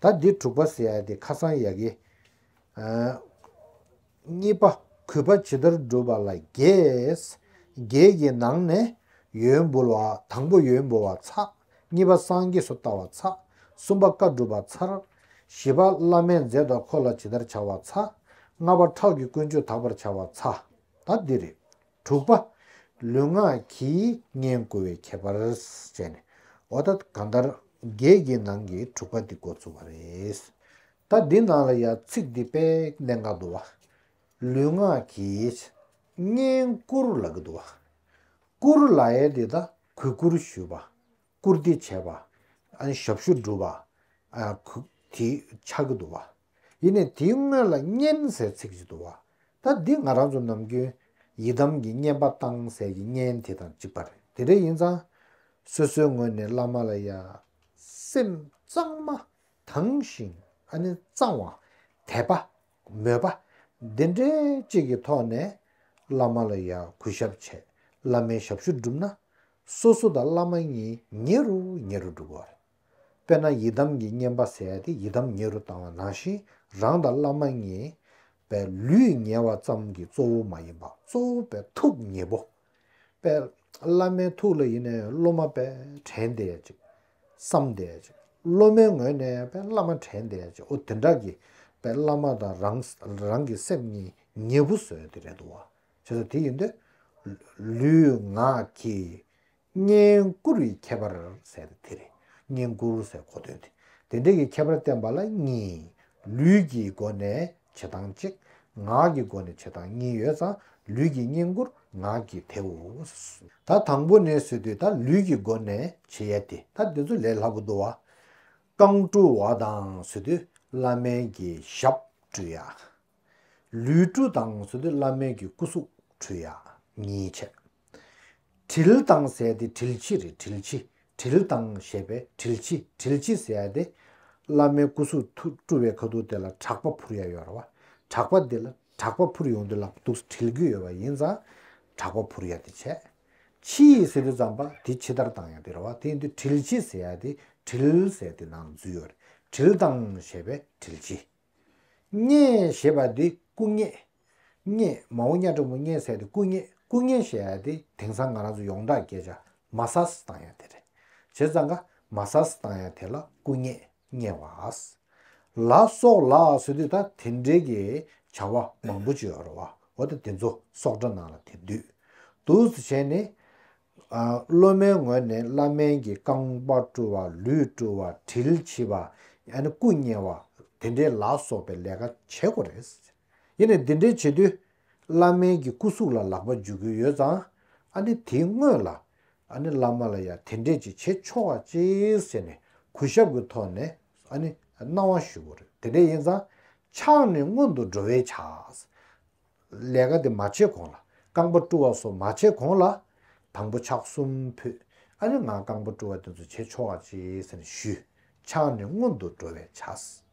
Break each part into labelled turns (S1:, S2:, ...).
S1: ད་འདི་དྲུག་པ་ཟེར་ཡག་དེ་ཁ་སང་ཡག་གི། གཉིས་པ་གུས་པ་ཇི་ལྟར་བསྒྲུབ་པ་ལ་རྒྱས། རྒྱས་ཀྱི་ནང་ནས་ཡོན་འབུལ་བ་དང་པོ་ཡོན་འབུལ་བ་ཚ། གཉིས་པ་སངས་རྒྱས་སུ་བལྟ་བ་ཚ། གསུམ་པ་བཀའ་བསྒྲུབ་པ་ཚར། བཞི་པ་བླ་མའི་མཛད་དང་འཁོར་ལ་ཇི་ལྟར་བྱ་བ་ཚ། ལྔ་པ་ཁྲག་གི་ཀུན་སྤྱོད་དག་པར་བྱ་བ་ཚ། ད་འདི་རེད། དྲུག་པ། ལུས་ངག་གིས་བསྙེན་བཀུར་བའི་ཁྱད་པར་བྱས་ནས། ཨོ་ད་གང་ལྟར་བརྒྱད་ཀྱི་ནང་གི་དྲུག་པ་འདི་འགོ་ཚུགས་པ་རེད། ད་འདི་ནང་ལ་ཡང་ཚིག་འདི་དཔེ་གནད་འགག་འདུག་བ། ལུས་ངག་གིས་བསྙེན་བཀུར་ལ་གི་འདུག་བ། བཀུར་ལ་ཡའི་འདི་ད་གུས་བཀུར་ཞུས་པ། བཀུར་སྟི་བྱེད་པ། ཞབས་ཞུ་སྒྲུབ་པ། དེའི་ཕྱག་གི་དུ་བ། ཡེ་ནས་དེའི་སྔོན་ལ་སྙན་སའི་ཚིག་གི་དུ་བ། ད་འདི་ང་རང་ཚོ་ནམ་རྒྱུན་ཡི་དམ་གྱི་བསྙེན་པ་བཏང་སའི་གི་བསྙེན་དེ་དང་གཅིག་པ་རེད་དེ་རེ་ཡིན་ཙང། སོ་སོའི་ངོས་ནས་བླ་མ་ལ་ཡ། སེམས་གཙང་མ། དྭངས་ཤིང། གཙང་བ། དད་པ། མོས་པ། འདི་འདྲའི་གཅིག་གི་ཐོག་ནས་བླ་མ་ལ་ཡང་གུས་ཞབས་བྱས་བླ་མའི་ཞབས་ཞུ་བསྒྲུབས་ན། སོ་སོ་དང་བླ་མ་གཉིས་ཉེ་རུ་ཉེ་རུ་འགྲོ་གི་རེད། དཔེར་ན་ཡི་དམ་གྱི་བསྙེན་པ་ཟེར་ཡ་དེ་ཡི་དམ་ཉེ་རུ་བཏང་བ་ནང་བཞིན་རང་དང་བླ་མ་གཉིས་པའི་ལུས་ཉེ་བ་ཙམ་གྱི་གཙོ་བོ་མ་ཡིན་པ་གཙོ་བོ་པའི་ཐུགས་ཉེ་པོ། པས། བླ་མའི་ཐུགས་ལ་ཡེ་ནས་སློབ་མ་པས་དྲན་ཏེ། བསམ་སྟེ། སློབ་མའི་ངོས་ནས་པས་བླ་མ་དྲན་ཏེ། འོ་དེ་འདྲ་གི། པས་བླ་མ་དང་རང། རང་གི་སེམས་གཉིས་ཉེ་བོ་བཟོས་ཏེ་རེ་དོ། ཞེས་སོ། དེ་ཡིན་ཏེ། ལུས་ངག་གིས། བསྙེན་བཀུར་བའི་ཁྱད་པར་ཟད་དེ་དེ་རེད། བསྙེན་བཀུར་ཟེར་གོ་དོན་དེ། དེ་འདྲ་གི་ཁྱད་པར་བསྟན་པ་ལ་གཉིས། ལུས་ཀྱི་སྒོ་ནས་བྱེད་སྟངས་གཅིག། ངག་གི་སྒོ་ནས་བྱེད་སྟངས་གཉིས་ཡོད་ཙང་ལུས་ཀྱིས་བསྙེན་བཀུར་ངག་གིས་དེའོ། ད་དང་པོ་ནས་བཟོས་དུས་ད་ལུས་ཀྱི་སྒོ་ནས་བྱེད་ཡ་དེ་ད་དེ་ཚོ་ལས་སླ་པོ་འདུག་བ། རྐང་བཀྲུ་བ་དང་བཟོས་དུས་བླ་མའི་གི་ཞབས་བཀྲུ་ཡ། ལུས་བཀྲུ་དང་བཟོས་དུས་བླ་མའི་གི་སྐུ་གཟུགས་བཀྲུ་ཡ་གཉིས་བྱེད། དྲིལ་དང་ཟས་ཏེ་དྲིལ་ཕྱི་རེད་དྲིལ་ཕྱི་དྲིལ་དང་ཞེས་པས་དྲིལ་ཕྱི་དྲིལ་ཕྱི་ཟས་ཏེ། བླ་མའི་སྐུ་གཟུགས་ཐུགས་སྤྲུལ་བའི་ཁ་ཐུག་དེ་ལ་གྲགས་པ་ཕུར་ཡ་ཡོར་བ་གྲགས་པ་དེ་ལ་གྲགས་པ་ཕུར་ཡོང་དུས་ལག་ཏུ་དྲིལ་བུ་ཡོད་པ་ཡིན་ཙང་གྲགས་པ་ཕུར་ཡ་དེ་བྱས། ཕྱི་ཡི་ཟས་དུ་ཙམ་པ་དེ་ཕྱི་ལྟར་དང་ཡང་དེ་རེད་བ་དེ་ཡིན་དུས་དྲིལ་ཕྱི་ཟས་ཏེ་དྲིལ་ཟས་ཏེ་ནང་འཛུལ་ཡོད་རེད་དྲིལ་དང་ཞེས་པས་དྲིལ་ཕྱི། སྙེ་ཞེས་པ་དེ་སྐུ་སྙེ། རྙེད། མ་འོ་རྙ་གྲོགས་མོ་རྙེད་ཟེར་ཏེ་སྐུ་རྙེད་སྐུ་རྙེད་བཤད་ཡ་དེ་དེང་སང་ང་རང་ཚོ་ཡོངས་གྲགས་སྐད་ཆ་མ་ས་སི་བཏང་ཡ་དེ་རེད། བྱས་ཙང་ཀ་མ་ས་སི་བཏང་ཡ་དེ་ལ་སྐུ་རྙེད་རྙེད་བ་ཨཱས། ལ་སོགས་ལ་ཟེར་དུས་ད་དེ་འདྲའི་གི་བྱ་བ་མང་པོ་བྱོས་ར་བ་འོ་ད་དེ་ཚོ་སོགས་སྒྲ་ནང་ལ་དེ་དུས་དུས་སུ་བྱས་ནས། སློབ་མའི་ངོས་ནས་བླ་སྨན་གྱི་རྐང་པ་བཀྲུ་བ་ལུས་བཀྲུ་བ་དྲིལ་ཕྱིས་པ། ཡང་ན་སྐུ་རྙེད་བ་དེ་འདྲའི་ལ་སོགས་པའི་ལས་ཀ་བྱེད་དགོས་རེད། ཡིན་ནས་འདི་འདྲའི་བྱེད་དུས། བླ་སྨན་གྱི་སྐུ་གཟུགས་ལ་ལག་པ་འཇུ་དགོས་ཡོད་ཙང། ཨ་ནི་དེའི་སྔོན་ལ། ཨ་ནི་བླ་མ་ལ་ཡང་དེ་འདྲས་ཅིག་བྱེད་ཆོག་ཨ་ཅེས་ཟེར་ནས་གུས་ཞབས་ཀྱི་ཐོག་ནས་ཨ་ནི་གནང་བ་ཞུ་དགོས་རེད་དེ་འདྲས་ཡིན་ཙང། ཕྱག་ནི་སྔོན་དུ་འགྲོ་བས་ཆགས། ལས་ཀ་དེ་མ་བྱས་གོང་ལ་རྐང་པ་བཀྲུ་བ་སོགས་མ་བྱས་གོང་ལ། དང་པོ་ཕྱག་གསུམ་ཕུད། ཨ་ནི་ང་རྐང་པ་བཀྲུ་བ་དེ་ཚོ་བྱེད་ཆོག་ཨ་ཅེས་ཟེར་ནས་ཞུས། ཕྱག་ནི་སྔོན་དུ་འགྲོ་བས་ཆགས།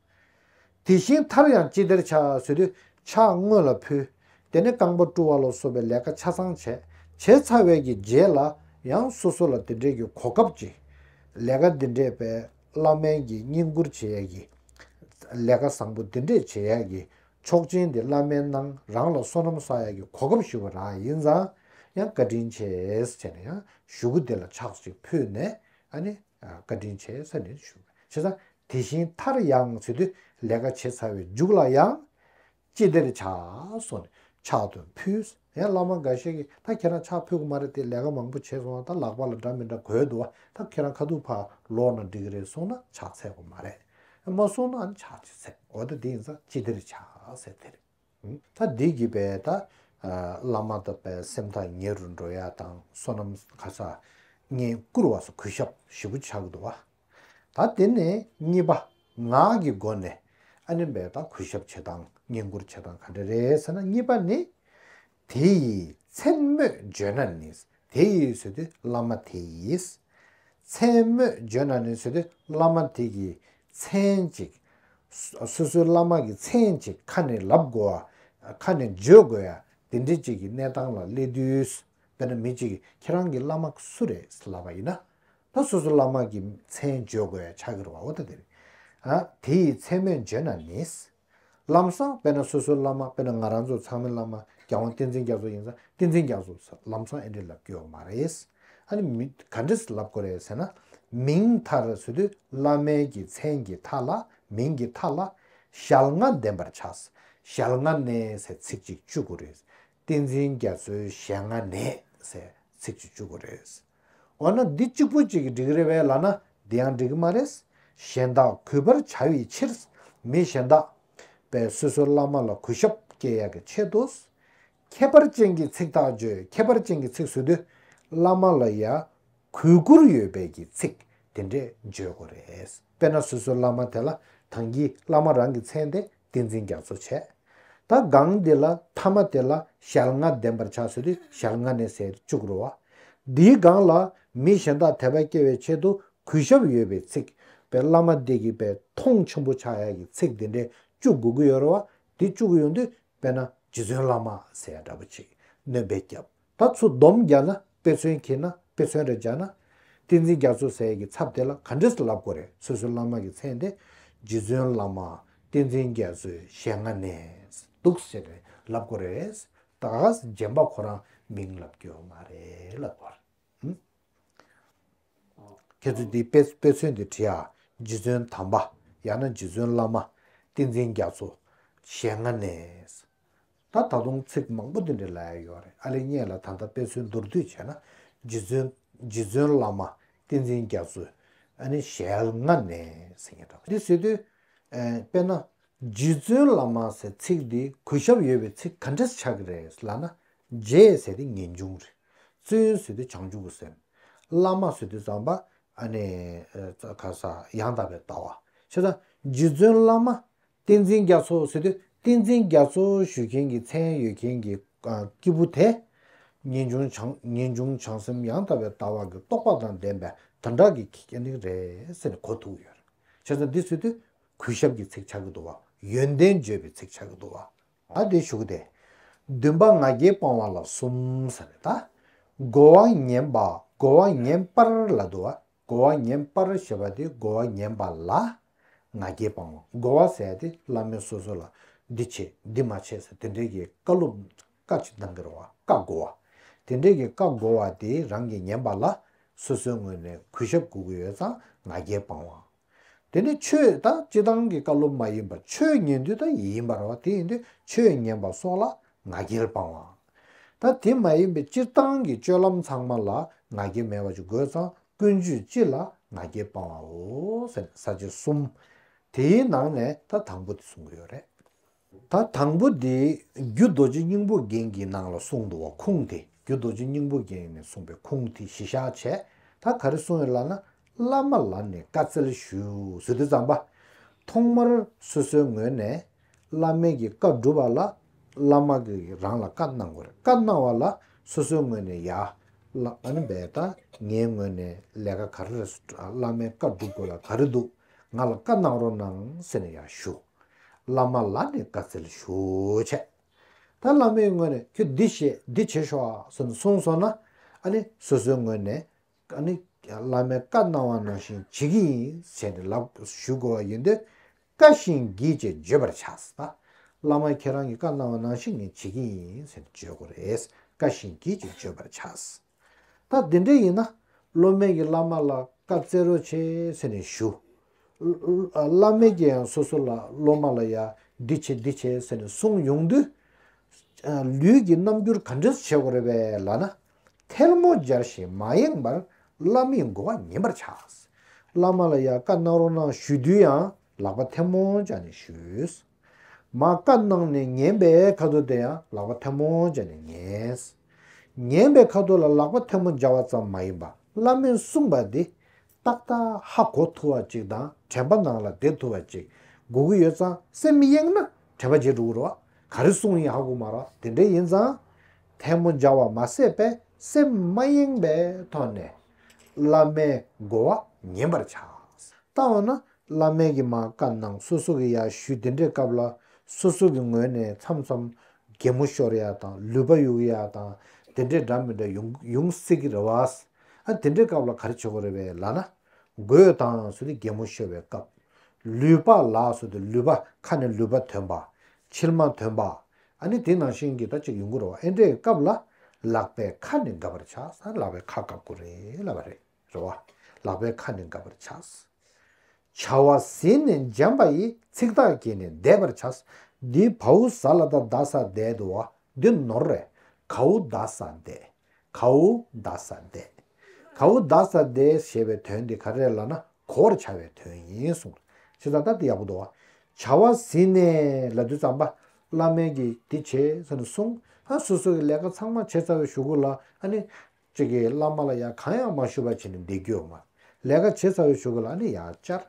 S1: དེ་བཞིན་མཐར་ཡང་ཅི་བདེར་ཕྱག་བཟོས་ཏེ་ཕྱག་དངོས་ལ་ཕུལ། དེ་ནས་རྐང་པ་བཀྲུ་བ་ལ་སོགས་པའི་ལས་ཀ་ཆ་ཚང་བྱས། བྱས་ཚར་བས་ཀྱི་རྗེས་ལ་ཡང་སོ་སོ་ལ་དེ་འབྲེལ་གྱི་གོ་སྐབས་ཀྱིས། ལས་ཀ་འདི་འདྲས་པས་བླ་སྨན་གྱིས་བསྙེན་བཀུར་བྱེད་ཡས་ཀྱི། ལས་ཀ་བཟང་པོ་འདི་འདྲས་བྱེད་ཡས་ཀྱི་ཆོག་མཆན་འདི་བླ་སྨན་རྣམས་རང་ལ་སོ་ནམ་བསགས་ཡས་ཀྱི་གོ་སྐབས་ཞུ་བ་རག་ཡིན་ཙང་ཡང་བཀའ་དྲིན་ཆེ་བྱས་ནས་ཡང་ཞུ་གུ་དེ་ལ་ཕྱག་ཅིག་ཕུལ་ནས། བཀའ་དྲིན་ཆེ་ས་ནས་ཞུ། བྱས་ཙང་དེ་བཞིན་མཐར་ཡང་ཚེ་དུས་ལས་ཀ་བྱེད་ཚར་བའི་མཇུག་ལ་ཡང། ཅི་བདེར་བྱ། སོགས་ནས་ཕྱག་ཏུ་ཕུལ། ཡང་བླ་མ་འགའ་ཤས་ཀྱིས་ད་ཁྱེད་རང་ཕྱག་ཕུལ་གི་མ་རེད་དེ་ལས་ཀ་མང་པོ་བྱས་སོང་བ་ད་ལག་པ་ལ་འདྲ་མི་འདྲ་གོས་འདུག་བ་ད་ཁྱེད་རང་ཁ་ཐུག་ཕར་ལོག་ན་འགྲིག་གི་རེད་སོང་ན་ཕྱག་འཚལ་བ་མ་རེད། མ་སོང་ན་ཕྱག་ཅི་འཚལ་འོ་ད་དེ་ཡིན་ཙང་ཅི་བདེར་བྱ། ཟེར་དེར། ཐ་དད་བགྱིས་པས་ད་བླ་མ་དག་པའི་སེམས་ཐག་ཉེ་རུ་འགྲོ་ཡ་དང་བསོད་ནམས་ག་ས་ལྔས་བསྐུར་བ་སོགས་གུས་ཞབས་བཞི་པོ་བྱ་དགོས་བ། ད་དེ་ནས་གཉིས་པ་ངག་གི་སྒོ་ནས་ཨ་ནེ་བས་ད་གུས་ཞབས་བྱེད་སྟངས་བསྙེན་བཀུར་བྱེད་སྟངས་ག་འདྲ་རེད་ཟེར་ན་གཉིས་པ་ནི། དེ་ཡི་མཚན་སྨོས་བརྗོད་ན་ནི། དེ་ཡི་ཟོ་དེ་བླ་མ་དེ་ཡིས། མཚན་སྨོས་བརྗོད་ན་ནི་ཟོ་དེ་བླ་མ་དེ་ཀྱི་མཚན་ཅིག། སོ་སོའི་བླ་མ་གྱི་མཚན་ཅིག་ཁ་ནས་ལབ་དགོ་བ། ཁ་ནས་བརྗོད་དགོས་ཡ། དེ་འདྲི་གཅིག་གི་གནས་སྟངས་ལ་སླེབས་དུས། དཔེར་ན་མི་གཅིག་གིས་ཁྱེད་རང་གི་བླ་མ་སུ་རེད་ལབ་པ་ཡིན་ན། ད་སོ་སོའི་བླ་མ་གྱི་མཚན་བརྗོད་དགོས་ཡ་ཆགས་ཀྱི་རེད་བ་འོ་ད་དེ་རེད། དེ་ཡི་མཚན་སྨོས་བརྗོད་ན་ནི། ལམ་བཟང་དཔེར་ན་སོ་སོའི་བླ་མ་དཔེར་ན་ང་རང་ཚོ་ཚང་མའི་བླ་མ་རྒྱལ་དབང་བསྟན་འཛིན་རྒྱ་མཚོ་ཡིན་ཙང་བསྟན་འཛིན་རྒྱ་མཚོ་ཟེར་ལམ་བཟང་ཨེ་འགྲིག་ལབ་རྒྱུ་ཡོད་མ་རེད། ཨ་ནི་མི་ག་འདྲས་ལབ་དགོས་རེད་ཟེར་ན། མིང་མཐར་ཟོས་དུས་བླ་མའི་གི་མཚན་གི་མཐའ་ལ་མིང་གི་མཐའ་ལ། ཞལ་སྔ་འདེམས་པར་ཆགས། ཞལ་སྔ་ནས་ཟེར་ཚིག་ཅིག་བཅུག་དགོས་རེད། བསྟན་འཛིན་རྒྱ་མཚོའི་ཞལ་སྔ་ནས་ཟེར་ཚིག་ཅིག་བཅུག་དགོས་རེད། འོ་ན་འདི་གཅིག་པུ་གཅིག་གིས་འགྲིག་རེ་བས་ལ་ན་འདི་ཡང་འགྲིག་གི་མ་རེད། གཞན་དག་གུས་པར་བྱ་བའི་ཕྱིར། མི་གཞན་དག། པས་སོ་སོའི་བླ་མ་ལ་གུས་ཞབས་བསྐྱེད་ཡག་གི་ཆེད་དུ། ཁྱད་པར་ཅན་གྱི་ཚིག་དག་བརྗོད་ཁྱད་པར་ཅན་གྱི་ཚིག་ཟུར་དུ། བླ་མ་ལ་ཡ། གུས་བཀུར་ཡོད་པས་ཀྱི་ཚིག་དེ་འདྲས་བརྗོད་དགོས་རེད། དཔེར་ན་སོ་སོའི་བླ་མ་དེ་ལ་དང་གི་བླ་མ་རང་གི་མཚན་དེ་བསྟན་འཛིན་རྒྱ་མཚོ་བྱས། ད་སྒང་འདི་ལ་མཐའ་མ་དེ་ལ་ཞལ་རྔ་ལྡན་པར་བྱ་ཟེར་དུས་ཞལ་རྔ་ནས་ཟེར་བཅུག་རོ། འདིའི་སྒང་ལ་མི་གཞན་དག་དད་པ་སྐྱེ་བའི་ཆེད་དུ་གུས་ཞབས་ཡོད་པའི་ཚིག་པའི་བླ་མ་འདི་གིས་པའི་མཐོང་ཆེན་པོ་ཆགས་ཡ་གི་ཚིག་འདི་འདྲས་བཅུག་དགོས་ཀྱི་ཡོད་རེ་བ་འདི་བཅུག་ཡོང་དུས་དཔེར་ན་རྗེ་བཙུན་བླ་མ་ཟེར་ཡ་འདྲ་པོ་ཅིག་གནོད་པའི་སྐྱབས་ད་ཚུར་སྡོམ་རྒྱག་ན་དཔེ་མཚོན་གྱིས་ན་དཔེ་མཚོན་རེད་བྱ་ན། ཏིང་འཛིན་རྒྱ་མཚོ་ཟས་ཀྱི་ཚབ་དེ་ལ་ག་འདྲས་སུ་ལབ་དགོས་རེད་སོ་སོའི་བླ་མ་གྱི་མཚན་དེ། རྗེ་བཙུན་བླ་མ་ཏིང་འཛིན་རྒྱ་མཚོའི་ཞལ་སྔ་ནས་འདུག་ཟེར་ནས་ལབ་དགོས་རེད། ད་རྗེན་པ་ཁོ་རང་མིང་ལབ་རྒྱུ་མ་རེད་ལབ་དགོས་རེད། ཁྱེད་ཚོས་འདི་དཔེ་མཚོན་དེ་བྲིས་ཨ། རྗེ་བཙུན་དམ་པ་ཡང་ན་རྗེ་བཙུན་བླ་མ་ཏིང་འཛིན་རྒྱ་མཚོ་ཞལ་སྔ་ནས། ད་ད་དུང་ཚིག་མང་པོ་འདི་འདྲ་ལ་ཡོད་རེད་ཨ་ལེ་རྙེད་ལ་ད་ལྟ་དཔེ་མཚོན་མདོར་བསྡུས་བྱས་ན་རྗེ་བཙུན་རྗེ་བཙུན་བླ་མ་བསྟན་འཛིན་རྒྱ་མཚོས་ཨ་ནི་ཞལ་སྔ་ནས་ཟེར་ངེས་རེད། འདི་ཟེར་དུས། དཔེར་ན། རྗེ་བཙུན་བླ་མ་ཟེར་ཚིག་འདི་གུས་ཞབས་ཡོད་པའི་ཚིག་ག་འདྲས་ཆགས་ཀྱི་རེད་ལ་ན། རྗེ་ཟེར་དུས་ངེས་འབྱུང་རེད། བཙུན་ཟེར་དུས་བྱང་ཆུབ་ཀྱི་སེམས། བླ་མ་ཟེར་དུས་ཙམ་པ་ཨ་ནི། ག་ས། ཡང་དག་པའི་ལྟ་བ། ཤེས་དང། རྗེ་བཙུན་བླ་མ་བསྟན་འཛིན་རྒྱ་མཚོ་ཟེར་དུས་བསྟན་འཛིན་རྒྱ་མཚོ་ཞུ་མཁན་གྱི་མཚན་ཡོད་མཁན་གྱི་སྐྱེས་བུ་དེ། ངེས་འབྱུང་བྱང་སེམས་ཡང་དག་པའི་ལྟ་བ་གྱི་རྟོགས་པ་དང་ལྡན་པའི་དོན་དག་གི་ཁྱད་ནི་རེད་ཟེར་གོ་ཐུག་ཡོད་རེད། ཁྱེད་ཚོ་འདི་ཟོས་དུས་གུས་ཞབས་ཀྱི་ཚིག་ཆགས་ཀྱི་འདུག་བ་ཡོན་ཏན་བརྗོད་པའི་ཚིག་ཆགས་ཀྱི་འདུག་བ་ང་དེ་ཞུ་གི་དེ། བདུན་པ་ང་རྒྱལ་སྤང་བ་ལ་གསུམ་ཟེར་རེད་ད། སྒོ་བ་ངན་པ་སྒོ་བ་ངན་པར་ལ་འདུག་བ་སྒོ་བ་ཉན་པར་ཞེས་པ་དེ་སྒོ་བ་ཉན་པ་ལ་ང་རྒྱལ་སྤང་ངོ། སྒོ་བ་ཟས་དེ་བླ་མས་སོ་སོ་ལ་འདི་བྱས་འདི་མ་བྱས་ཟེར་དེ་འབྲེལ་གྱི་བཀའ་སློབ་བཀའ་ཅི་གདམས་ཀྱི་རོ་བ་བཀའ་བསྒོ་བ། དེ་འབྲེལ་གྱི་བཀའ་བསྒོ་བ་དེ་རང་གིས་ཉན་པ་ལ་སོ་སོའི་ངོས་ནས་གུས་ཞབས་གུས་གུས་ཡོད་ཙང་ང་རྒྱལ་སྤང་བ། དེ་ནས་ཆོས་དང་སྤྱི་བཏང་གི་བཀའ་སློབ་མ་ཡིན་པར་ཆོས་ཉན་དུས་དང་ཡིན་པར་བ་དེ་ཡིན་དུས་ཆོས་ཉན་པ་སོགས་ལ་ང་རྒྱལ་སྤང་བ། ད་དེ་མ་ཡིན་པའི་སྤྱིར་བཏང་གི་སྤྱོད་ལམ་ཚང་མ་ལ་ང་རྒྱལ་མེད་པ་ཅིག་དགོས་ཙང་ཀུན་སྤྱོད་སྤྱི་ལ་ང་རྒྱལ་སྤང་བའོ། ས་བཅད་གསུམ། དེའི་ནང་ནས་ད་དང་པོ་དེ་གསུང་གི་ཡོད་རེད། ད་དང་པོ་དེ་རྒྱུ་རྡོ་རྗེ་སྙིང་པོ་རྒྱན་གྱི་ནང་ལ་གསུང་འདུག་བ་ཁུངས་དེ་རྒྱུ་རྡོ་རྗེ་སྙིང་པོ་རྒྱན་ནས་གསུངས་པའི་ཁུངས་དེ་གཞི་བཞག་བྱས་ད་ག་རེ་གསུང་ཡོད་ལགས་ན་བླ་མ་ལ་ནས་བཀའ་སྩལ་ཞུ་ཟེར་དུས་ཙམ་པ། ཐོག་མར་སོ་སོའི་ངོས་ནས་བླ་མེད་ཀྱི་བཀའ་སྒྲུབ་པ་ལ་བླ་མ་གིས་རང་ལ་བཀའ་གནང་དགོས་རེད་བཀའ་གནང་བ་ལ་སོ་སོའི་ངོས་ནས་ཡ། ཨཱ་འི་ད་ངའི་ངོས་ནས་ལས་ཀ་ག་རེ་རེད་བླ་མའི་བཀའ་སྒྲུབ་དགོས་ལ་ག་རེ་འདུག་ང་ལ་བཀའ་གནང་རོགས་གནང་ཟེར་ནས་ཡ་ཞུ། བླ་མ་ལ་ནས་བཀའ་སྩལ་ཞུ་བྱས། ད་བླ་མའི་ངོས་ནས་ཁྱོད་འདི་བྱེད་འདི་བྱེད་ཤོག་ཟེར་ནས་གསུངས་སོང་ན་ཨཱ་ནི་སོ་སོའི་ངོས་ནས་ཨཱ་ནི་བླ་མའི་བཀའ་གནང་བ་ནང་བཞིན་བྱེད་ཀྱི་ཡིན་ཟེར་ནས་ལབ་ཞུ་དགོས་བ་ཡིན་དུས། བཀའ་བཞིན་བགྱིས་ཅེས་བརྗོད་པར་བྱ། བླ་མ་ཁྱེད་རང་གི་བཀའ་གནང་བ་ནང་བཞིན་ངས་བྱེད་ཀྱི་ཡིན་ཟེར་ནས་བརྗོད་དགོས་རེད། བཀའ་བཞིན་བགྱིས་ཅེས་བརྗོད་པར་བྱ། ད་དེ་འདྲ་ཡིན་ན། སློབ་མས་ཀྱིས་བླ་མ་ལ་བཀའ་སྩལ་རོགས་བྱེད་ཟེར་ནས་ཞུ། བླ་མས་ཀྱིས་ཡང་སོ་སོ་ལ་སློབ་མ་ལ་ཡང་འདི་བྱེད་འདི་བྱེད་ཟེར་ནས་གསུངས་ཡོང་དུས། ལུས་ཀྱི་རྣམ་འགྱུར་ག་འདྲས་བྱེད་དགོས་རེད་པས་ལགས་ན། ཐལ་མོ་སྦྱར་བཞིན་མ་ཡེངས་པར་བླ་མའི་བསྒོ་བ་ཉན་པར་བྱ། བླ་མ་ལ་ཡང་བཀའ་གནང་རོགས་གནང་ཞུས་དུས་ཡང་ལག་པ་ཐལ་མོ་སྦྱར་ནས་ཞུས། མ་བཀའ་གནང་ནས་ཉན་པའི་ཁ་དོག་དེ་ཡང་ལག་པ་ཐལ་མོ་སྦྱར་ནས་ཉན། ཉན་པའི་ཁ་དོག་ལ་ལག་པ་ཐལ་མོ་སྦྱར་བ་ཙམ་མ་ཡིན་པར་བླ་མས་གསུངས་པ་དེ་ཏག་ཏག་ཧ་གོ་ཐུབ་བ་ཅིག་དང་དྲན་པ་ནང་ལ་བསྡད་ཐུབ་བ་ཅིག་དགོས་ཀྱི་ཡོད་ཙང་སེམས་མི་གཡེང་ན་དྲན་པ་བརྗེད་འགྲོ་གི་རེད་བ་ག་རེ་གསུང་ཡིན་ཧ་གོ་མ་རོགས་དེ་འདྲས་ཡིན་ཙང་ཐལ་མོ་སྦྱར་བ་མ་ཟད་པས་སེམས་མ་གཡེང་པའི་ཐོག་ནས་བླ་མའི་དགོ་བ་ཉན་པར་བྱ། ལྟ་འོ་ན་བླ་མས་ཀྱི་མ་བཀའ་གནང་སོ་སོ་གི་ཡ་ཞུས་དེ་འདྲས་སྐབས་ལ་སོ་སོ་གི་ངོས་ནས་མཚམས་མཚམས་རྒྱལ་མོ་ཤོར་ཡ་དང་ལུས་པ་གཡུག་ཡ་དང་དེ་འདྲས་འདྲ་མི་འདྲ་ཡོང་སྲིད་ཀྱི་རེད་བ། ཨ་དེ་འདྲའི་སྐབས་ལ་ག་རེ་བྱེད་དགོས་རེད་བས་ལ་ན། རྒོད་དང་སུ་དེ་རྒྱལ་མོ་ཤོར་བའི་སྐབས། ལུས་པ་ལ་སུ་དེ་ལུས་པ་ཁ་ནས་ལུས་པ་དོན་པ། མཆིལ་མ་དོན་པ། ཨ་ནི་དེ་ནང་བཞིན་གྱི་ད་ཅིག་ཡོང་དགོས་རེད་བ་ཨེ་འདྲའི་སྐབས་ལ། ལག་པའི་ཁ་ནས་འགབ་པར་ཆགས་ས་ལག་པའི་ཁ་བཀབ་དགོས་རེད་ལབ་པ་རེད་རེད་བ། ལག་པའི་ཁ་ནས་འགབ་པར་ཆགས། བྱ་བ་ཟིན་ནས་འཇམ་པ་ཡིས་ཚིག་ཐག་བཅད་ནས་བསྡད་པར་ཆགས། འདི་བའུ་ཟ་ལ་ད་ཟ་བསྡད་དུ་བ་འདི་ནོར་རེད། གའུ་ད་ཟ་བསྡད། གའུ་བཟླ་ས་བཟླས། གའུ་བཟླ་ས་བཟླས་ཞེས་པའི་དོན་དེ་ག་རེ་ལ་ན་གོ་བར་བྱ་བའི་དོན་ཡིན་གསུངས། ཞེས་དང་རྟགས་དེ་ཡག་པོ་འདུག། བྱ་བ་ཟིན་ནས་ལ་དུས་ཙམ་པ་བླ་མས་ཀྱིས་འདི་བྱེད་ཟེར་ནས་གསུངས། ཧ་སོ་སོ་གི་ལས་ཀ་ཚང་མ་བྱས་ཚར་བའི་ཞུ་གུ་ལ་ཨ་ནི། ཅིག་གིས་བླ་མ་ལ་ཡང་གང་ཡང་མ་ཞུ་བར་བྱས་ནས་བསྡད་རྒྱུ་ཡོད་མོད། ལས་ཀ་བྱས་ཚར་བའི་ཞུ་གུ་ལ་ཨ་ནི་ཡང་བཅར།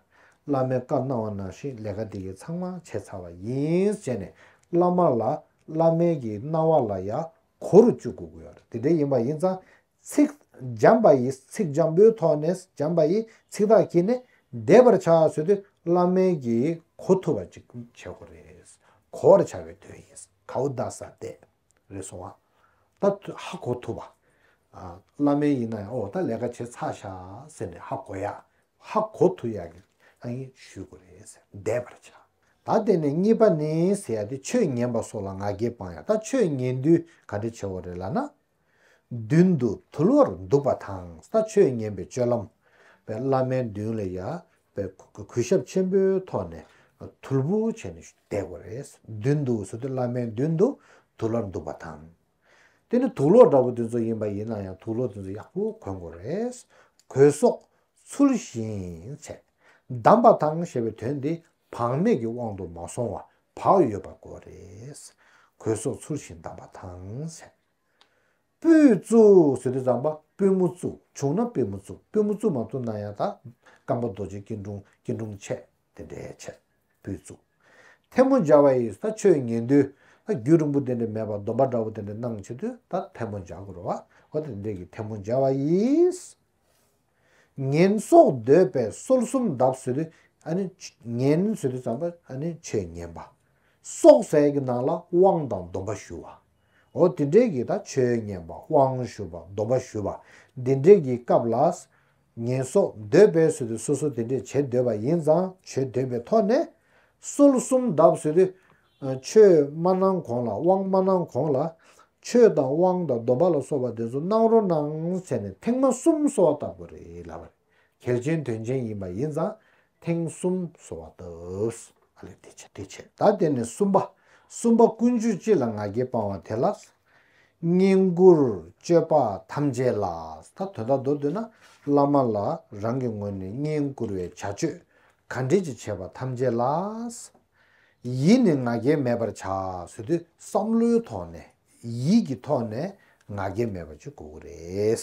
S1: བླ་མའི་བཀའ་གནང་བ་ནང་བཞིན་ལས་ཀ་འདི་གི་ཚང་མ་བྱས་ཚར་བ་ཡིན་ཟེར་ནས་བླ་མ་ལ་བླ་མས་ཀྱིས་གནང་བ་ལ་ཡང་གོ་རུ་བཅུག་དགོས་ཀྱི་ཡོད། དེ་འདྲ་ཡིན་པ་ཡིན་ཙང། ཚིག། འཇམ་པ་ཡིས་ཚིག་འཇམ་པོའི་ཐོག་ནས་འཇམ་པ་ཡིས་ཚིག་ཐག་གིས་ནས་བསྡད་པར་བྱ་ཟེར་དུས་བླ་མེད་ཀྱིས་གོ་ཐུབ་པ་ཅིག་བྱེད་དགོས་རེད། གོ་བར་བྱ་བའི་དོན་ཡིན། གའུ་རྡ་ས་ཏེ། རེད་སོང་བ། ད་ཧ་གོ་ཐུབ་པ། བླ་མེད་ཡིན་ན་ཡང་ཨོ་ད་ལས་ཀ་བྱེད་ཚར་ཤག་ཟེར་ནས་ཧ་གོ་ཡག། ཧ་གོ་ཐུབ་ཡག་གི་ཨ་ཡིན་ཞུས་དགོས་རེད་ཟེར་བསྡད་པར་བྱ། ད་དེ་ནས་གཉིས་པ་ནི་ཟེར་ཡ་དེ་ཆོས་ཉན་པ་སོགས་ལ་ང་རྒྱལ་སྤང་ཡ་ད་ཆོས་ཉན་དུས་ག་འདྲི་བྱེད་བོ་རེད་ལ་ན། མདུན་དུ་དུལ་བར་འདུག་པ་དང་ད་ཆོས་ཉན་པའི་སྤྱོད་ལམ། བའི་བླ་མའི་མདུན་ལ་ཡ། བའི་གུས་ཞབས་ཆེན་པོའི་ཐོག་ནས་དུལ་བུ་བྱས་ནས་བསྡད་བོ་རེད། མདུན་དུ་ཟེར་དུས་བླ་མའི་མདུན་དུ་དུལ་བར་འདུག་པ་དང། དེ་ནི་དུག་ལོག་འདྲ་བོ་དེ་ཚོ་ཡིན་པ་ཡིན་ན་ཡང་དུག་ལོག་དེ་ཚོ་ཡག་པོ་གོན་དགོས་རེད། གོས་སོགས་ཚུལ་བཞིན་ཚད་བདམས་པ་དང་ཞེས་པའི་དོན་དེ་བག་མེད་ཀྱི་དབང་དུ་མ་སོང་བ་བག་ཡོད་པ་དགོས་རེད། གོས་སོགས་ཚུལ་བཞིན་བདམས་པ་དང་ཚད། སྤོས་བཙུགས་ཟེར་དུས་ཙམ་པ་སྤོས་མོ་བཙུགས་བྱུང་ན་སྤོས་མོ་བཙུགས་སྤོས་མོ་བཙུགས་མ་ཐུབ་ན་ཡང་དག་དམ་པ་རྡོ་རྗེ་སྐྱིལ་ཀྲུང་སྐྱིལ་ཀྲུང་ཆད་དེ་འདྲའི་ཆད། པོའི་གཙུག། ཐལ་མོ་སྦྱར་བ་ཡིས་ད་ཆོས་ཉན་དུས། ད་རྒྱུད་རིང་པོ་དེ་འདྲ་མེད་པར་སྡོམ་པ་འདྲ་བོ་དེ་འདྲ་གནང་བྱེད་དུས་ད་ཐལ་མོ་སྦྱར་དགོས་རོ། བ་ད་དེ་འདྲའི་གི་ཐལ་མོ་སྦྱར་བ་ཡིས། ངན་སོགས་འདོད་པའི་སོལ་གསུམ་གདབ་བཟོད་དུས། ཉན་བཟོད་དུས་ཙམ་པ་ཆོས་ཉན་པ། སོག་ཟས་ཀྱི་ནང་ལ་དབང་དང་སྡོམ་པ་ཞུ་བ། བ་དེ་འདྲའི་གི་ད་ཆོས་ཉན་པ་དབང་ཞུ་བ་སྡོམ་པ་ཞུ་བ་འདི་འདྲའི་གི་སྐབས་ལ། ཉེས་གསོག་འདོད་པའི་ཚུལ་དུ་སོ་སོ་དེ་འདྲས་བྱེད་འདོད་པ་ཡིན་ཙང་བྱོས་འདོད་པའི་ཐོག་ནས། སོལ་གསུམ་བརྡབ་བཟོས་ཏེ། ཆོས་སྨྲ་གནང་གོང་ལ་དབང་སྨྲ་གནང་གོང་ལ། ཆོས་དང་དབང་དང་སྡོམ་པ་ལ་སོགས་པ་དེ་ཚོ་གནང་རོགས་གནང་ཟེར་ནས་ཐེངས་མ་གསུམ་གསོལ་བ་བཏབ་པ་རེད་ལབ་པ་རེད། གལ་ཆེན་དོན་ཆེན་ཡིན་པ་ཡིན་ཙང་ཐེངས་གསུམ་གསོལ་བ་བཏབ། དེ་ཕྱིར་ད་དེ་ནས་གསུམ་པ། གསུམ་པ་ཀུན་སྤྱོད་སྤྱི་ལ་ང་རྒྱལ་སྤང་བ་དེ་ལ། བསྙེན་བཀུར་སྤྱོད་པ་ཐམས་ཅད་ལ། ད་དོན་དག་མདོར་བསྡུས་ན། བླ་མ་ལ་རང་གི་ངོས་ནས་བསྙེན་བཀུར་བའི་བྱ་སྤྱོད་ག་འདྲས་ཀྱི་བྱས་པ་ཐམས་ཅད་ལ། ཡིད་ནས་ང་རྒྱལ་མེད་པར་བྱ། ཟོས་དུས་བསམ་བློའི་ཐོག་ནས། ཡིད་ཀྱི་ཐོག་ནས་ང་རྒྱལ་མེད་པ་གཅིག་དགོས་ཀྱི་རེད།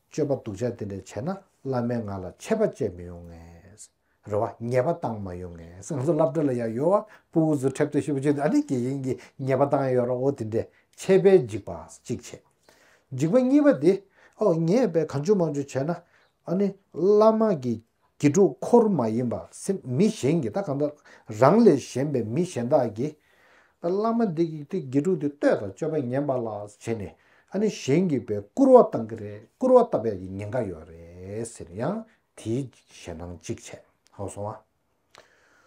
S1: སྤྱོད་པ་སྡུག་ཅག་དེ་འདྲ་བྱས་ན་བླ་མའི་ངག་ལ་ཆད་པ་བཅད་མི་ཡོང་ངེས། རེ་བ་ཉེས་པ་བཏང་མ་ཡོང་ངེས་ང་ཚོ་བསླབ་གྲྭ་ལ་ཡང་ཡོད་བ་པུ་འུ་ཚོ་ཁྲེབ་ཏོ་ཤི་བོ་ཆེ་འདི་ཨ་ནི་དགེ་རྒན་གྱིས་ཉེས་པ་བཏང་ཡོད་ར་འོ་དེ་འདྲས་ཆད་པས་འཇིགས་པ་གཅིག་བྱས། འཇིགས་པ་གཉིས་པ་དེ་ཨོ་ཉེས་པས་གང་བྱུང་མང་བྱུང་བྱས་ན་ཨ་ནི་བླ་མ་གིས་གི་དྲུག་འཁོར་མ་ཡིན་པར་སེམས་མི་གཞན་གྱི་ད་གང་ཟླ། རང་ལས་གཞན་པའི་མི་གཞན་དག་གིས། ད་བླ་མ་འདི་གིས་ཏེ་གི་དྲུག་དེ་བསྟོད་དང་སྤྱོད་པ་ངན་པ་ལ་བྱས་ནས་ཨ་ནི་གཞན་གྱིས་པའི་བསྐུར་བ་བཏང་གི་རེད་བསྐུར་བ་བཏབ་པའི་ཡི་ཉེན་འགའ་ཡོད་རེད་ཟེར་ཡང་དེའི་ཞེ་སྣང་ཅིག་བྱས་ཧོ་སོང་བ།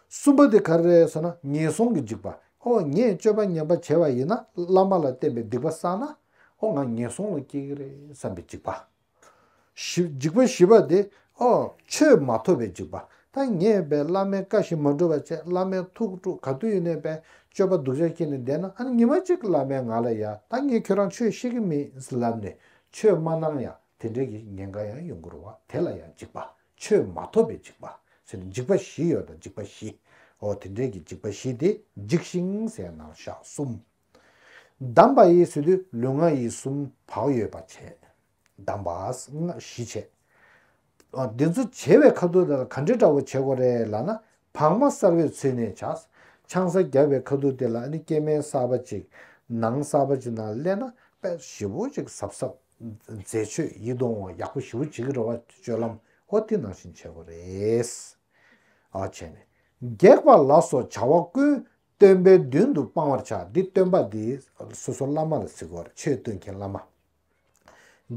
S1: གསུམ་པ་དེ་ག་རེ་རེད་ཟེར་ན་ངན་སོང་གི་འཇིགས་པ་ཨོ་ངས་སྤྱོད་པ་ངན་པ་བྱས་པ་ཡིན་ན་བླ་མ་ལ་བསྟན་པའི་སྡིག་པ་བསགས་ན་ཨོ་ང་ངན་སོང་ལ་སྐྱེ་གི་རེད་བསམ་པའི་འཇིགས་པ། འཇིགས་པའི་བཞི་པ་འདི། ཨོ། ཆོས་མ་ཐོབ་པའི་འཇིགས་པ། ཐ་སྙད་པའི་བླ་མའི་བཀའ་བཞིན་མ་འགྲུབ་པ་བཅས་བླ་མའི་ཐུགས་དཀྲུགས་ག་དུས་ཡོད་ནས་པའི་སྤྱོད་པ་སྡུག་ཅག་བྱས་ནས་བསྡད་ན་ཨ་ནི་ཉི་མ་གཅིག་བླ་མས་ང་ལ་ཡ་ད་ངས་ཁྱོད་རང་ཆོས་ཤེས་ཀྱི་མིན་ལབ་ནས་ཆོས་མ་གནང་ཡང་དེ་འདྲའི་ཀྱི་ཉེན་ཁ་ཡང་ཡོང་གི་རུང་བ་དེ་ལ་ཡང་འཇིགས་པ། ཆོས་མ་ཐོབ་པའི་འཇིགས་པ། ཟེར་ནས་འཇིགས་པ་བཞི་ཡོད་དོ་འཇིགས་པ་བཞི། ཨོ་དེ་འདྲའི་ཀྱི་འཇིགས་པ་བཞི་དེ་འཇིགས་ཤིང་ཟས་ནང་ཞག་གསུམ། གདམས་པ་ཡི་ཚུལ་དུ་ལུས་ངག་ཡིད་གསུམ་བག་ཡོད་པར་བྱས། གདམས་པས་སྔགས་བཞི་བྱས། འདི་ཚོ་བྱེ་བའི་ཁ་ཐུག་དེ་ལ་ག་འདྲས་འདྲ་བོ་བྱེད་དགོས་རེད་ལགས་ན་བག་མ་གསར་བས་ཚུད་ནས་བྱ། ཆང་ས་རྒྱབ་པའི་ཁ་ཐུག་དེ་ལ་ནི་སྐྱེ་དམན་གསར་པ་ཅིག་ནང་གསར་པ་ཅིག་ནང་སླེབས་ན་དཔེ་ཞིབ་བོ་ཅིག་ཟབ་ཟབ་མཛད་ཆོས་ཡིད་གདུང་བ་ཡག་པོ་ཞིབ་བོ་བྱེད་ཀྱི་རེད་བ་སྤྱོད་ལམ་ཧོ་ཐི་ནང་བཞིན་བྱེད་དགོས་རེད། བྱས་ནས། སྒེག་པ་ལ་སོགས་བྱ་བ་ཀུན་སྟོན་པའི་མདུན་དུ་སྤང་བར་བྱ། འདི་སྟོན་པ་འདི། སོ་སོ་བླ་མ་ལ་གཟིགས་བར་ཆོས་སྟོན་མཁན་བླ་མ།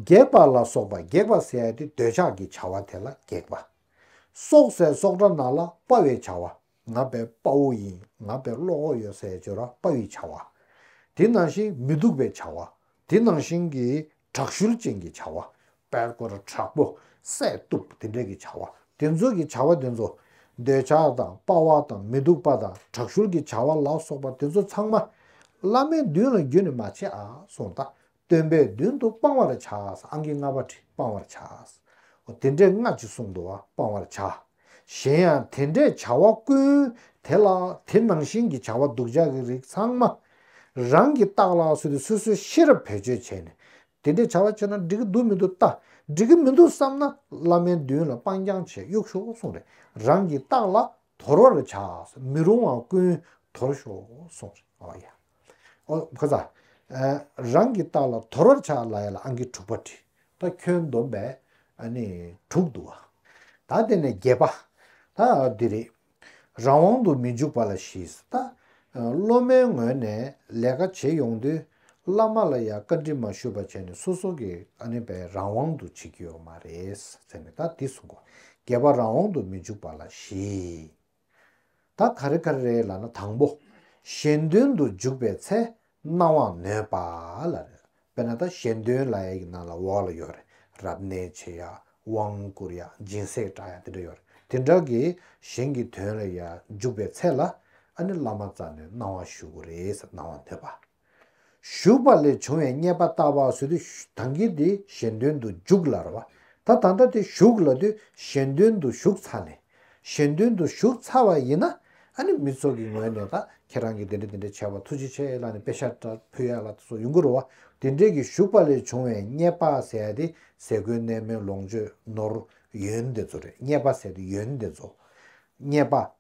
S1: སྒེག་པ་ལ་སོགས་པ་སྒེག་པ་ཟས་ཏེ་འདོད་ཆགས་ཀྱི་བྱ་བ་དེ་ལ་སྒེག་པ། སྲོག་ཟས་སྲོག་སྒྲ་ནག་ལ་དཔའ་བའི་བྱ་བ། ངག་པའི་དཔའ་བོ་ཡིན་ངག་པའི་བློ་ཁོག་ཡོད་ཟས་སྦྱོར་བ་དཔའ་བའི་བྱ་བ། དེ་ནང་བཞིན་མི་སྡུག་པའི་བྱ་བ། དེ་ནང་བཞིན་གྱི་དྲག་ཤུལ་ཅན་གྱི་བྱ་བ། པད་སྐོར་དྲག་པོ། བསད་གཏུབ་དེ་འདྲ་གྱི་བྱ་བ། དེ་ཚོ་གྱི་བྱ་བ་དེ་ཚོ། འདོད་ཆགས་དང་དཔའ་བ་དང་མི་སྡུག་པ་དང་དྲག་ཤུལ་གྱི་བྱ་བ་ལ་སོགས་པ་དེ་ཚོ་ཚང་མ། བླ་མའི་མདུན་ལ་རྒྱུད་ནས་མ་བྱས་ཨ་གསུངས་ད། སྟོན་པའི་མདུན་དུ་སྤང་བར་བྱ། ཨང་ཀི་ལྔ་པ་ཁྲི་སྤང་བར་བྱ། དེ་འདྲའི་སྔགས་ཀྱི་གསུང་དུ་བ་སྤང་བར་བྱ། གཞན་ཡང་དེ་འདྲའི་བྱ་བ་ཀུན་དེ་ལ་དེ་ནང་བཞིན་གྱི་བྱ་བ་སྡུག་ཅག་གི་རིགས་ཚང་མ་རང་གིས་བརྟགས་ལ་སོ་སོའི་སོ་སོའི་ཤེས་རབ་བེད་སྤྱོད་བྱས་ནས་དེ་འདྲའི་བྱ་བ་བྱས་ན་འགྲིག་གི་འདུག་མི་འདུག་བལྟ་འགྲིག་གི་མི་འདུག་བསམ་ན་བླ་མའི་མདུན་ལ་སྤང་རྐྱང་བྱས་གཡུག་ཤོག་གསུངས་རེ་རང་གིས་བརྟགས་ལ་དོར་བར་བྱ་མི་རུང་བ་ཀུན་དོར་ཤོག་གསུངས་རེ་ཨོ་ཡ། ཨོ། རང་གི་རྟགས་ལ་དོར་བར་བྱ། ལ་ཡ་ལ་ཨང་ཀི་དྲུག་པ་བྲི། ད་ཁྱོད་འདོམས་པས་དྲུག་འདུ་བ། ད་དེ་ནས་བརྒྱད་པ། ད་འདི་རེད། རང་དབང་དུ་མི་འཇུག་པ་ལ་བཞི། ད་སློབ་མའི་ངོས་ནས་ལས་ཀ་བྱེད་ཡོང་དུས་བླ་མ་ལ་ཡ་བཀའ་འདྲི་མ་ཞུས་པ་བྱས་ནས་སོ་སོ་གི་པའི་རང་དབང་དུ་བྱེད་ཀྱི་ཡོད་མ་རེད། ད་འདི་གསུངས་གོ། བརྒྱད་པ་རང་དབང་དུ་མི་འཇུག་པ་ལ་བཞི། ད་ག་རེ་ག་རེ་རེད་ལ་ན་དང་པོ། གཞན་དོན་དུ་འཇུག་པའི་ཚེ་རྣ་དབང་ནོད་པ་ལ་རེད། དཔེར་ན་ད་གཞན་དོན་ལ་ཡ་གི་ནང་ལ་འོག་ལ་ཡོད་རེད། རབ་གནས་བྱེད་ཡ། དབང་བསྐུར་ཡ། སྦྱིན་སྲེག་གྲགས་ཡ་དེ་འདྲ་ཡོད་རེད། དེ་འདྲ་གི་གཞན་གི་དོན་ལ་ཡ་འཇུག་པའི་ཚེ་ལ་ཨ་ནི་བླ་མ་རྩ་ནས་སྣང་བ་ཞུ་དགོས་རེད་ཟེར་སྣང་བ་ནོད་པ། ཞུགས་པ་ལས་བྱུང་བའི་རྙེད་པ་ལྟ་བ་བཟོད་དུ་དང་གིས་དེ་གཞན་དོན་དུ་འཇུག་ལར་བ་ད་ད་ལྟ་དེ་ཞུགས་ལ་དུས་གཞན་དོན་དུ་ཞུགས་ཚར་ནས་གཞན་དོན་དུ་ཞུགས་ཚར་བ་ཡིན་ན་ཨ་ནི་མི་ཚོགས་ཀྱི་ངོས་ནས་ད་ཁྱེད་རང་གིས་དེ་འདྲ་དེ་འདྲ་བྱས་བ་ཐུགས་རྗེ་ཆེ་ལགས་ནས་དཔེ་ཤ་ཏྲ་ཕུལ་ཡག་ལགས་སོགས་ཡོང་གི་རུ་བ་དེ་འདྲས་ཀྱི་ཞུགས་པ་ལས་བྱུང་བའི་རྙེད་པ་ཟད་དེ་ཟས་གོས་གནས་མལ་ལོངས་སྤྱོད་ནོར་ཡོན་དེ་ཚོ་རེད་རྙེད་པ་ཟད་དེ་ཡོན་དེ་ཚོ། རྙེད་པ།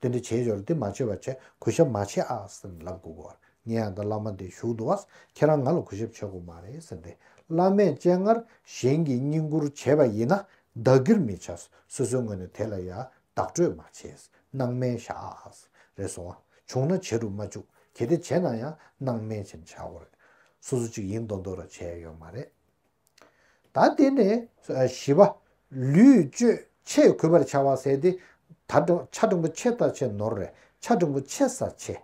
S1: དེ་འདྲ་བྱེད་ཞོར་དེ་མ་བྱེད་པ་བྱས་གུས་ཞབས་མ་བྱེད་ཨ་ཟེར་ལབ་དགོས་གོ། ངས་ཡང་ད་བླ་མ་འདི་བཞུགས་འདུག་ཨ། ཁྱེད་རང་ང་ལ་གུས་ཞབས་བྱེད་དགོས་མ་རེད་ཟེར་ཏེ། བླ་མས་སྤྱན་སྔར་གཞན་གྱིས་བསྙེན་བཀུར་བྱས་པ་ཡིན་ན་བདག་གིར་མི་བྱ། སོ་སོའི་ངོས་ནས་དེ་ལ་ཡང་བདག་སྤྲོད་མ་བྱེད། སྣང་མེད་བཞག་ཨ། རེ་ཟུང་ཨ། བྱུང་ན་བྱེད་དུ་མ་བཅུག་གལ་ཏེ་བྱས་ན་ཡང་སྣང་མེད་ཅན་བྱ་དགོས་རེད། སོ་སོ་གཅིག་ཡིན་མདོག་མདོག་ར་བྱས་ཡོད་མ་རེད། ད་དེ་ནས་བཞི་པ། ལུས་སྤྱོད་ཆས་གུས་པར་བྱ་བ་ཟས་ཏེ། ད་ཆ་འབྲིང་པོ་ཆེ་ལྟ་ཆེ་ནོར་རེ་ཆ་འབྲིང་པོ་ཆེ་ཟ་ཆེ།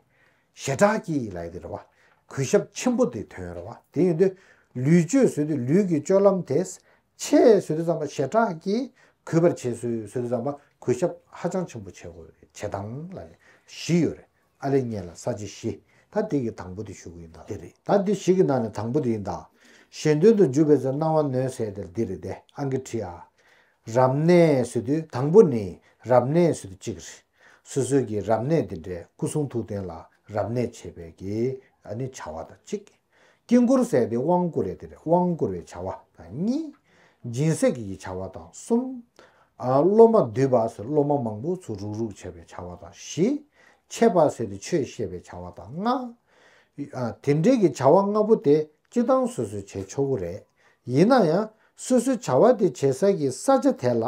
S1: ཞེ་དྲག་གི་ལ་ཡི་དེ་རེ་བ། གུས་ཞབས་ཆེན་པོ་དེ་དོན་རེ་བ་དེ་ཡོད་དུས། ལུས་སྤྱོད་ཟོས་དུས་ལུས་ཀྱི་སྤྱོད་ལམ་དེ། ཆས་ཟོས་དུས་ཙམ་པ་ཞེ་དྲག་གི། གུས་པར་བྱས་ཟོས་དུས་ཙམ་པ་གུས་ཞབས་ཧ་ཅང་ཆེན་པོ་བྱེད་དང་ལ་ལས་བཞི་ཡོད་རེད། ཨ་རེ་གཉན་ལ་ས་བྱི་བཞི། ད་འདི་གི་དང་པོ་དེ་ཞུ་གི་ཡིན་ད། འདི་རེད་ད་འདི་བཞི་གི་ནང་ནས་དང་པོ་དེ་ཡིན་ད། གཞན་དོན་དུ་འཇུག་པའི་ཚེ་སྣང་བ་མནོའི་ཟས་དེར་འདི་རེད་དེ་ཨང་ཀི་ཁྲི་ཨ། རབ་གནས་སུ་དུ་དང་པོ་ནི་རབ་གནས་སུ་དུ་གཅིག་རེད། སོ་སོའི་གི་རབ་གནས་དེ་འདྲའི་སྐུ་གསུང་ཐུགས་རྟེན་ལ་རབ་གནས་བྱེད་པའི་གི་ཨ་ནི་བྱ་བ་དང་གཅིག། དཀྱིལ་འཁོར་གསལ་ཏེ་དབང་བསྐུར་བས་དེར་དབང་བསྐུར་བའི་བྱ་བ་དང་གཉིས། སྦྱིན་སྲེག་གི་བྱ་བ་དང་གསུམ། སློབ་མ་འདུས་པ་ཟེར་སློབ་མ་མང་པོ་ཚུར་རུག་རུག་བྱ་བའི་བྱ་བ་དང་བཞི། འཆད་པ་ཟེར་ཏེ་ཆོས་བཤད་པའི་བྱ་བ་དང་ལྔ། དེ་འབྲེལ་གྱི་བྱ་བ་ལྔ་པོ་དེ་སྤྱི་བཏང་སོ་སོའི་བྱེད་ཆོག་གུ་རེད། ཡིན་ན་ཡང་སོ་སོའི་བྱ་བ་དེ་བྱེད་ས་ཀྱི་ས་ཆ་དེ་ལ་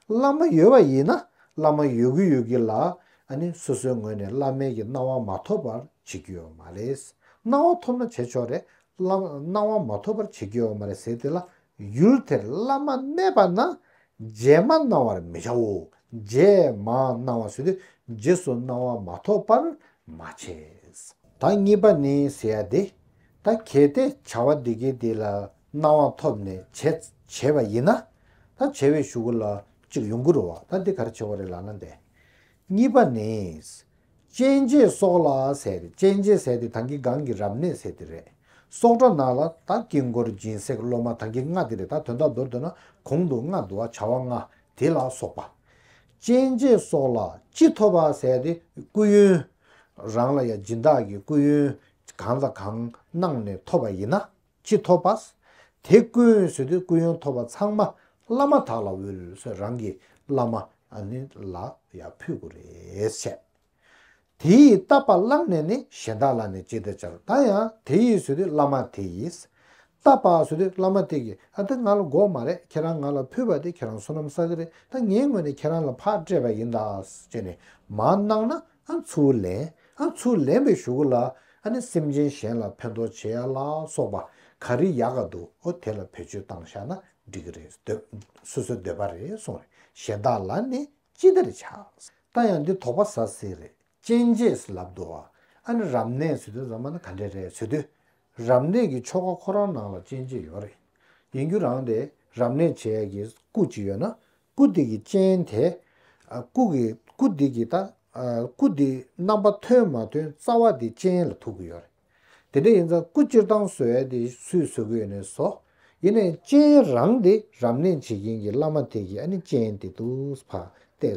S1: བླ་མ་ཡོད་པ་ཡིན་ན་བླ་མ་ཡོད་གི་ཡོད་གི་ལ་ནི་སོ་སོའི་ངོས་ནས་བླ་མེད་ཀྱི་སྣང་བ་མ་ཐོབ་པར་བྱེད་ཀྱི་ཡོད་མ་རེད། སྣང་བ་ཐོབ་ན་བྱེད་ཆོག་རེད། བླ་མ་སྣང་བ་མ་ཐོབ་པར་བྱེད་ཀྱི་ཡོད་མ་རེད་ཟེར་དེ་ལ་ཡུལ་དེར་བླ་མ་གནས་པ་ན་རྗེས་མ་སྣང་བར་མི་བྱའོ། རྗེས་མ་སྣང་བ་ཟེར་དུས་རྗེས་སུ་སྣང་བ་མ་ཐོབ་པར་མ་བྱས། ད་གཉིས་པ་ནི་ཟེར་ཡ་དེ། ད་གལ་ཏེ་བྱ་བ་འདི་གའི་དེ་ལ་སྣང་བ་ཐོབ་ནས་བྱས་བྱས་པ་ཡིན་ན། ད་བྱས་བའི་ཞུ་གུ་ལ་གཅིག་ཡོང་གི་རུ་བ་ད་འདི་གར་བྱས་བ་རེད་ལ་ན་འདས། གཉིས་པ་ནི། གཅན་རྗེ་སོགས་ལ་ཟས་རེད་གཅན་རྗེ་ཟས་དེ་ད་གི་སྒང་གི་རབ་གནས་ཟས་དེ་རེད། སོག་སྒྲ་ནག་ལ་ད་དཀྱིལ་འཁོར་སྦྱིན་སྲེག་སློབ་མ་ད་གི་སྔགས་དེ་རེད་ད་དོན་དག་མདོར་བསྡུ་ན་གོང་དུ་སྔགས་བསྡུ་བ་བྱ་བ་ལྔ་དེ་ལ་སོགས་པ། གཅན་རྗེ་སོགས་ལ་སྤྱི་ཐོབ་པ་ཟས་དེ་སྐུ་ཡོན། རང་ལ་ཡང་སྦྱིན་བདག་གི་སྐུ་ཡོན་གང་དང་གང་གནང་ནས་ཐོབ་པ་ཡིན་ན། ཅི་ཐོབ་པ། དེ་ཀུན་བཟོད་དུས་ཀུན་ཡོན་ཐོབ་པ་ཚང་མ་བླ་མ་དག་ལ་དབུལ་སོད་རང་གི་བླ་མ་ལ་ཡང་ཕུལ་དགོས་རེད་བཤད། དེ་ཡིས་བཏབ་པ་བླངས་ནས་ནི་གཞན་དག་ལ་ནི་ཅི་བདེ་བྱར་ད་ཡང་དེ་ཡིས་བཟོད་དུས་བླ་མ་དེ་ཡིས། བཏབ་པ་བཟོད་དུས་བླ་མ་དེ་གིས་ཨ་དེ་ང་ལ་འགོག་མ་རེད་ཁྱེད་རང་ང་ལ་ཕུལ་བ་དེ་ཁྱེད་རང་བསོད་ནམས་བསགས་ཀྱི་རེད་ད་ངའི་ངོས་ནས་ཁྱེད་རང་ལ་ཕག་སྤྲད་པ་ཡིན་ད་ཅེས་ནི་མ་གནང་ན་ཨ་ཚུགས་ལེན། ཨ་ཚུགས་ལེན་པའི་ཞུ་གུ་ལ་ཨ་ནི་སེམས་ཅན་གཞན་ལ་ཕན་ཐོགས་བྱེད་ཡ་ལ་སོགས་པ་ག་རི་ཡ་ག་འདུག་ཨོ་དེ་ལ་བེད་སྤྱོད་བཏང་ཤག་ན་འགྲིག་གི་རེད་འདོད་སོ་སོའི་འདོད་པ་རེད་སོང་རེད་གཞན་དག་ལ་ནི་ཅི་ལྟར་བྱ་ད་ཡང་འདི་དོགས་པ་ཟ་སྲིད་རེད་ཅན་རྗེས་སུ་ལབ་འདུག་ཨ་ནི་རབ་གནས་ཟེར་དུས་རྫ་མ་ནི་ག་འདྲས་རེད་ཟེར་དུས། རབ་གནས་ཀྱི་ཆོ་ག་ཁོ་རང་ནང་ལ་ཅན་རྗེས་ཡོད་རེད་ཡིན་རྒྱུ་རང་རེད་རབ་གནས་བྱེད་ཡ་གི་སྐུ་གཅིག་ཡོད་ན་སྐུ་འདི་ཀྱི་སྤྱན་དེ། སྐུ་གི་སྐུ་འདི་ཀྱི་དང། སྐུ་འདི་རྣམ་པ་ཐོན་མ་ཐོན་རྩ་བ་འདི་སྤྱན་ལ་ཐུག་གི་ཡོད་རེད། དེ་འདྲ་ཡིན་ཙང་སྐུ་སྤྱིར་བཏང་བཟོ་ཡ་དེ་སུས་བཟོ་གི་ཡོད་ནས་བཟོ། ཡིན་ནའི་སྤྱན་རང་དེ་རབ་གནས་བྱེད་མཁན་གྱི་བླ་མ་དེ་ཀྱིས་ཨ་ནི་སྤྱན་དེ་དུ་བ་སྟེ།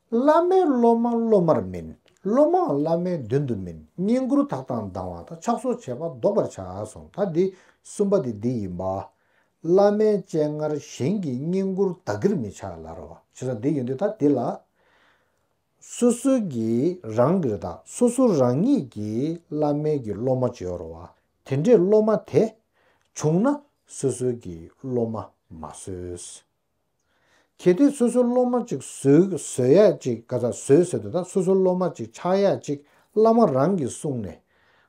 S1: བླ་མའི་སློབ་མ་སློབ་མར་མིན། སློབ་མའང་བླ་མའི་མདུན་དུ་མིན་བསྙེན་བཀུར་དག་དང་ལྡང་བ་དང་ཕྱག་སོར་བྱས་པ་བཟློག་པར་བྱ་གསུངས་ད་འདི་གསུམ་པ་དེ་འདི་ཡིན་པ། བླ་མའི་སྤྱན་སྔར་གཞན་གྱིས་བསྙེན་བཀུར་བདག་གིར་མི་བྱ་ལ་ར་བ་ཇི་ལྟར་འདི་ཡོད་འདི་ལྟར་འདི་ལ། སོ་སོ་གྱིས་རང་གིར་དང་སོ་སོ་རང་ཉིད་ཀྱིས་བླ་མའི་གྱི་སློབ་མ་བྱོར་བ་དེ་འདྲའི་སློབ་མ་དེ། བྱུང་ན་སོ་སོའི་གྱི་སློབ་མ་མ་བཟོས། གལ་ཏེ་སོ་སོའི་སློབ་མ་ཅིག་ཟོས་ཟོས་ཡག་ཅིག་ག་ཚག་ཟོས་ཟོས་དེ་དག་སོ་སོའི་སློབ་མ་ཅིག་ཆགས་ཡག་ཅིག་བླ་མ་རང་གིས་གསུངས་ནས།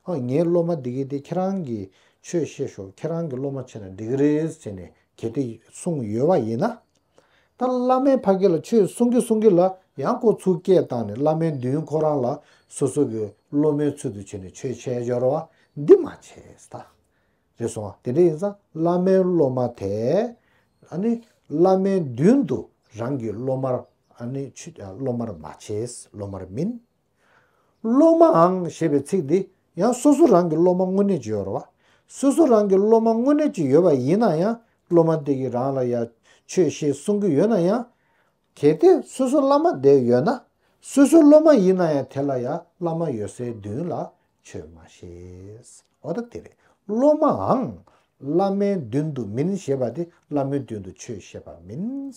S1: ཧོ་ངའི་སློབ་མ་འདི་གི་དེ་ཁྱེད་རང་གིས་ཆོས་བཤད་ཞོག་ཁྱེད་རང་གི་སློབ་མ་བྱས་ན་འགྲིག་གི་རེད་ཟེར་ནས་གལ་ཏེ་གསུངས་ཡོད་པ་ཡིན་ན། ད་བླ་མས་ཕ་གི་ལ་ཆོས་གསུང་གི་གསུང་གི་ལ་ཡང་ཁོ་ཚུར་སྐད་བཏང་ནས་བླ་མའི་མདུན་ཁོ་རང་ལ་སོ་སོ་གི་སློབ་མའི་ཚུལ་དུ་བྱས་ནས་ཆོས་འཆད་འབྱོར་བ་འདི་མ་བྱས་ད། ཞེས་སོང་ང། དེ་འདྲ་ཡིན་ཙང་བླ་མའི་སློབ་མ་དེས་བླ་མའི་མདུན་དུ་རང་གི་སློབ་མར་སློབ་མར་མ་བྱས་སློབ་མར་མིན། སློབ་མའང་ཞེས་པའི་ཚིག་འདི་ཡང་སོ་སོ་རང་གི་སློབ་མ་དངོས་གནས་ཀྱི་ཡོད་རེད་བ། སོ་སོ་རང་གི་སློབ་མ་དངོས་གནས་ཀྱི་ཡོད་པ་ཡིན་ན་ཡང་སློབ་མ་དེ་གིས་རང་ལ་ཡང་ཆོས་བཤད་གསུང་གི་ཡོད་ན་ཡང། གལ་ཏེ་སོ་སོ་བླ་མ་དེ་ཡོད་ན་སོ་སོའི་སློབ་མ་ཡིན་ན་ཡང་དེ་ལ་ཡང་བླ་མ་ཡོད་སའི་མདུན་ལ་ཆོས་མ་ཤེས། འོ་ད་དེ་རེད། སློབ་མའང་བླ་མའི་མདུན་དུ་མིན་ཞེས་པ་དེ་བླ་མའི་མདུན་དུ་ཆོས་བཤད་པ་མིན།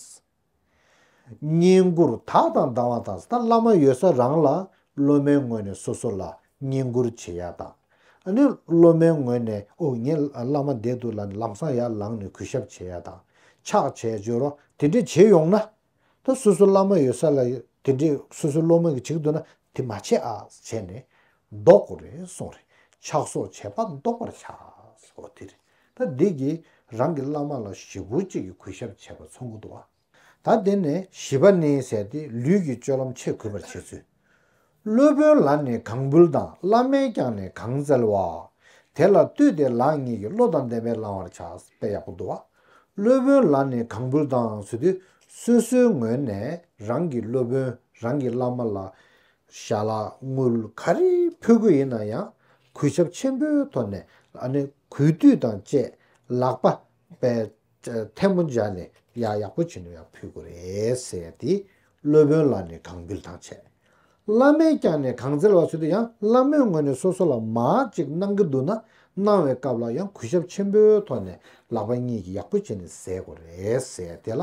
S1: བསྙེན་བཀུར་དག་དང་སྡང་བ་དང་བླ་མ་ཡོད་ས་རང་ལ་སློབ་མའི་ངོས་ནས་སོ་སོ་ལ་བསྙེན་བཀུར་བྱེད་ཡག་དང། ཨ་ནི་སློབ་མའི་ངོས་ནས་ཨོ་ངས་བླ་མ་འདས་འདུག་ལ་ལམ་སང་ཡར་ལངས་ནས་གུས་ཞབས་བྱེད་ཡག་དང། ཕྱག་བྱས་བཅོལ་རོགས་དེ་འདྲས་བྱེད་ཡོང་ན། ད་སོ་སོ་བླ་མ་ཡོད་ས་ལ་དེ་འདྲས་སོ་སོའི་སློབ་མ་གིས་བྱེད་འདུག་ན་དེ་མ་བྱེད་ཨ་བྱས་ནས་ལྡོག་གོ་རེ་སོང་རེ་ཕྱག་སོགས་བྱས་པ་ལྡོག་པར་བྱ། ཨོ་དེ་རེད་ད་འདི་གིས་རང་གི་བླ་མ་ལ་ཞེ་དགུ་གཅིག་གིས་གུས་ཞབས་བྱས་པ་ཚོ་མགོ་བསྡུ་བ། ད་འདི་ནས་བཞི་པ་ནི་ཟེར་ཏེ་ལུས་ཀྱི་སྤྱོད་ལམ་ཆེས་གུས་པར་བྱེད་ཚུལ། སློབ་དཔོན་ལ་ནི་གང་འབུལ་དང་བླ་མས་ཀྱང་ནི་གང་བཙལ་བ། དེ་ལ་བཏུད་དེ་ལག་གཉིས་ཀྱིས་བློ་དང་ལྡན་པས་བླང་བར་བྱ། དཔེ་ཡག་པོ་འདུག་བ། སློབ་དཔོན་ལ་ནི་གང་འབུལ་དང་ཟུར་དུ་སོ་སོའི་ངོས་ནས་རང་གི་སློབ་དཔོན་རང་གི་བླ་མ་ལ་ཞྭ་ལ་དངུལ་ག་རེ་ཕུལ་གི་ཡིན་ན་ཡང་གུས་ཞབས་ཆེན་པོའི་ཐོག་ནས་གུས་བཏུད་དང་བཅས་ལག་པ་པའི་ཐལ་མོ་སྦྱར་ནས་ཡག་ཡག་པོ་བྱིན་ནོ་ཡང་ཕུལ་དགོས་རེད་ཟེར་ཏེ་སློབ་དཔོན་ལ་ནི་གང་འབུལ་དང་བྱས། བླ་མས་ཀྱང་ནི་གང་སྩལ་བ་སུ་དེ་ཡང་བླ་མོས་ངོས་ནས་སོ་སོ་ལ་མ་ཅིག་གནང་གི་འདུག་ན་གནང་བའི་སྐབས་ལ་ཡང་གུས་ཞབས་ཆེན་པོའི་ཐོག་ནས་ལག་པ་གཉིས་ཀྱིས་ཡག་པོ་བྱས་ནས་ཟས་དགོས་རེད་ཟེར་དེ་ལ་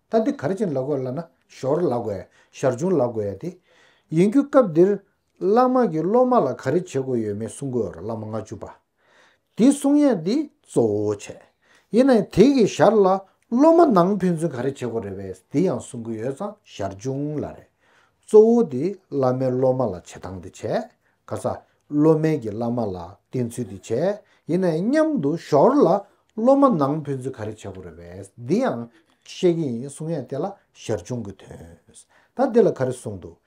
S1: ད་འདི་གར་བྱིན་ལ་དགོས་ལབ་ན་ཞོར་ལ་དགོས་ཞར་བྱུང་ལ་དགོས་ཡ་དེ། ཡིན་རྒྱུ་སྐབས་འདིར། བླ་མ་གིས་སློབ་མ་ལ་ག་རེ་བྱེད་དགོས་ཡོད་མེད་གསུང་དགོས་བླ་མ་ལྔ་བཅུ་པ། དེ་གསུང་ཡ་དེ་གཙོ་བོ་བྱས། ཡིན་ན་ཡང་དེ་གི་ཞར་ལ་སློབ་མ་ནང་ཕན་ཚུན་ག་རེ་བྱེད་དགོས་རེད་བས་དེ་ཡང་གསུང་གི་ཡོད་ཙང་ཞར་བྱུང་ལ་རེད། གཙོ་བོ་དེ་བླ་མའི་སློབ་མ་ལ་བྱེད་སྟངས་དེ་བྱས། ག་ས། སློབ་དམན་གྱིས་བླ་མ་ལ་བསྟེན་ཚུལ་དེ་བྱས་ཡིན་ནའི་སྙམ་དུ་ཞོར་ལ་སློབ་མ་ནང་ཕན་ཚུན་ག་རེ་བྱེད་དགོས་རེད་བས་འདི་ཡང་ཤེས་ཀྱི་ཡིན་གསུང་ཡས་དེ་ལ་ཞར་བྱུང་གི་དོན་དང་འདི་ལ་ག་རེ་གསུང་འདུག་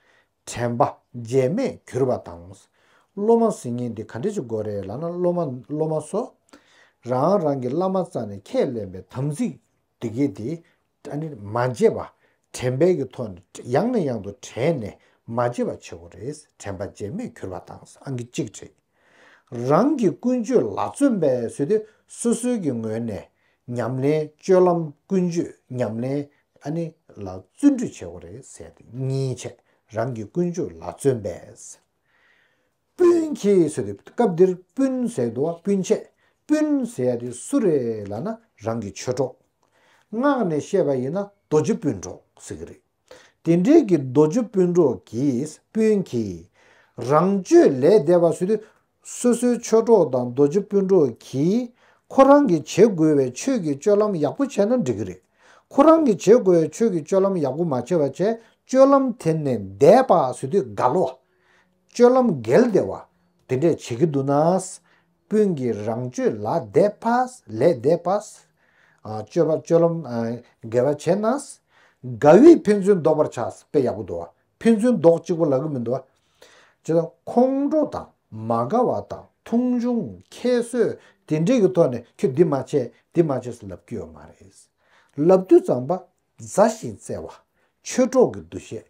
S1: དྲན་པ་རྗེས་མས་གྱུར་པ་དང། སློབ་མ་ཟིན་ངེས་འདི་ག་འདྲས་བྱེད་དགོས་རེད་ལ་ན་སློབ་མ་སློབ་མ་སོགས་རང་རང་གི་བླ་མ་རྩ་ནས་ཁས་ལེན་པའི་དམ་ཚིག་འདི་གས་དེ་དགྲ་ནི་མ་བརྗེད་པ་དྲན་པས་ཀྱི་ཐོག་ནས་ཡང་ནས་ཡང་དུ་དྲན་ནས་མ་བརྗེད་པ་བྱེད་དགོས་རེད་དྲན་པ་བརྗེད་མེད་གྱུར་པ་དང་ཨང་ཀི་གཅིག་རེད། རང་གི་ཀུན་སྤྱོད་ལ་བརྩོན་པས་བཟོས་ཏེ་སོ་སོའི་ཀྱི་ངོས་ནས་ཉམས་ལེན་སྤྱོད་ལམ་ཀུན་སྤྱོད་ཉམས་ལེན་ཨ་ནི་ལ་བརྩོན་འགྲུས་བྱེད་དགོས་རེད་གསལ་ཏེ་གཉིས་ཆད་རང་གི་ཀུན་སྤྱོད་ལ་བརྩོན་པས། སྤུན་གྱིས་ཟེར་ཏེ་སྐབས་འདིར་སྤུན་ཟེར་དུ་བ་སྤུན་ཆེ་སྤུན་ཟེར་ཡ་དེ་སུ་རེད་ལ་ན་རང་གི་ཆོས་གྲོགས། ངག་ནས་བཤད་པ་ཡིན་ན་རྡོ་རྗེ་སྤུན་གྲོགས་ཟེར་གྱི་རེད། དེ་འབྲེལ་གྱི་རྡོ་རྗེ་སྤུན་གྲོགས་ཀྱིས་སྤུན་གྱིས་རང་ཆོས་ལས་འདས་པ་ཟེར་དུས་སོ་སོའི་ཆོས་གྲོགས་དང་རྡོ་རྗེ་སྤུན་གྲོགས་ཀྱིས་ཁོ་རང་གི་བྱེད་དགོས་བའི་ཆོས་ཀྱི་སྤྱོད་ལམ་ཡག་པོ་བྱས་ན་འགྲིག་གི་རེད། ཁོ་རང་གི་བྱེད་དགོས་བའི་ཆོས་ཀྱི་སྤྱོད་ལམ་ཡག་པོ་མ་བྱས་པ་བྱས་སྤྱོད་ལམ་དེ་ནས་འདས་པ་ཟེར་དུས་དགའ་ལོ། སྤྱོད་ལམ་འགལ་བདེ་བ། དེ་འདྲས་བྱེད་ཀྱི་འདུག་ན། སྤུན་གྱི་རང་སྤྱོད་ལ་དད་པ། ལས་དད་པ། སྤྱོད་པ་སྤྱོད་ལམ་འགལ་བ་བྱས་ན། དགའ་བས་ཕན་ཚུན་བཟློག་པར་བྱ། དཔེ་ཡག་པོ་འདུག་བ། ཕན་ཚུན་བཟློག་གཅིག་པོ་ལ་གི་མི་འདུག་བ། ཇི་ལྟར་ཁོང་ཁྲོ་དང་མ་དགའ་བ་དང་མཐོང་ཆུང་ཁྱད་གསོད་དེ་འདྲས་ཀྱི་ཐོག་ནས་ཁྱོད་འདི་མ་བྱས་འདི་མ་བྱས་སུ་ལབ་ཀྱི་ཡོད་མ་རེད། ལབ་དུས་ཙམ་པ་མཛའ་ཞིང་བརྩེ་བ། ཆོས་གྲོགས་ཀྱི་འདུ་ཤེས།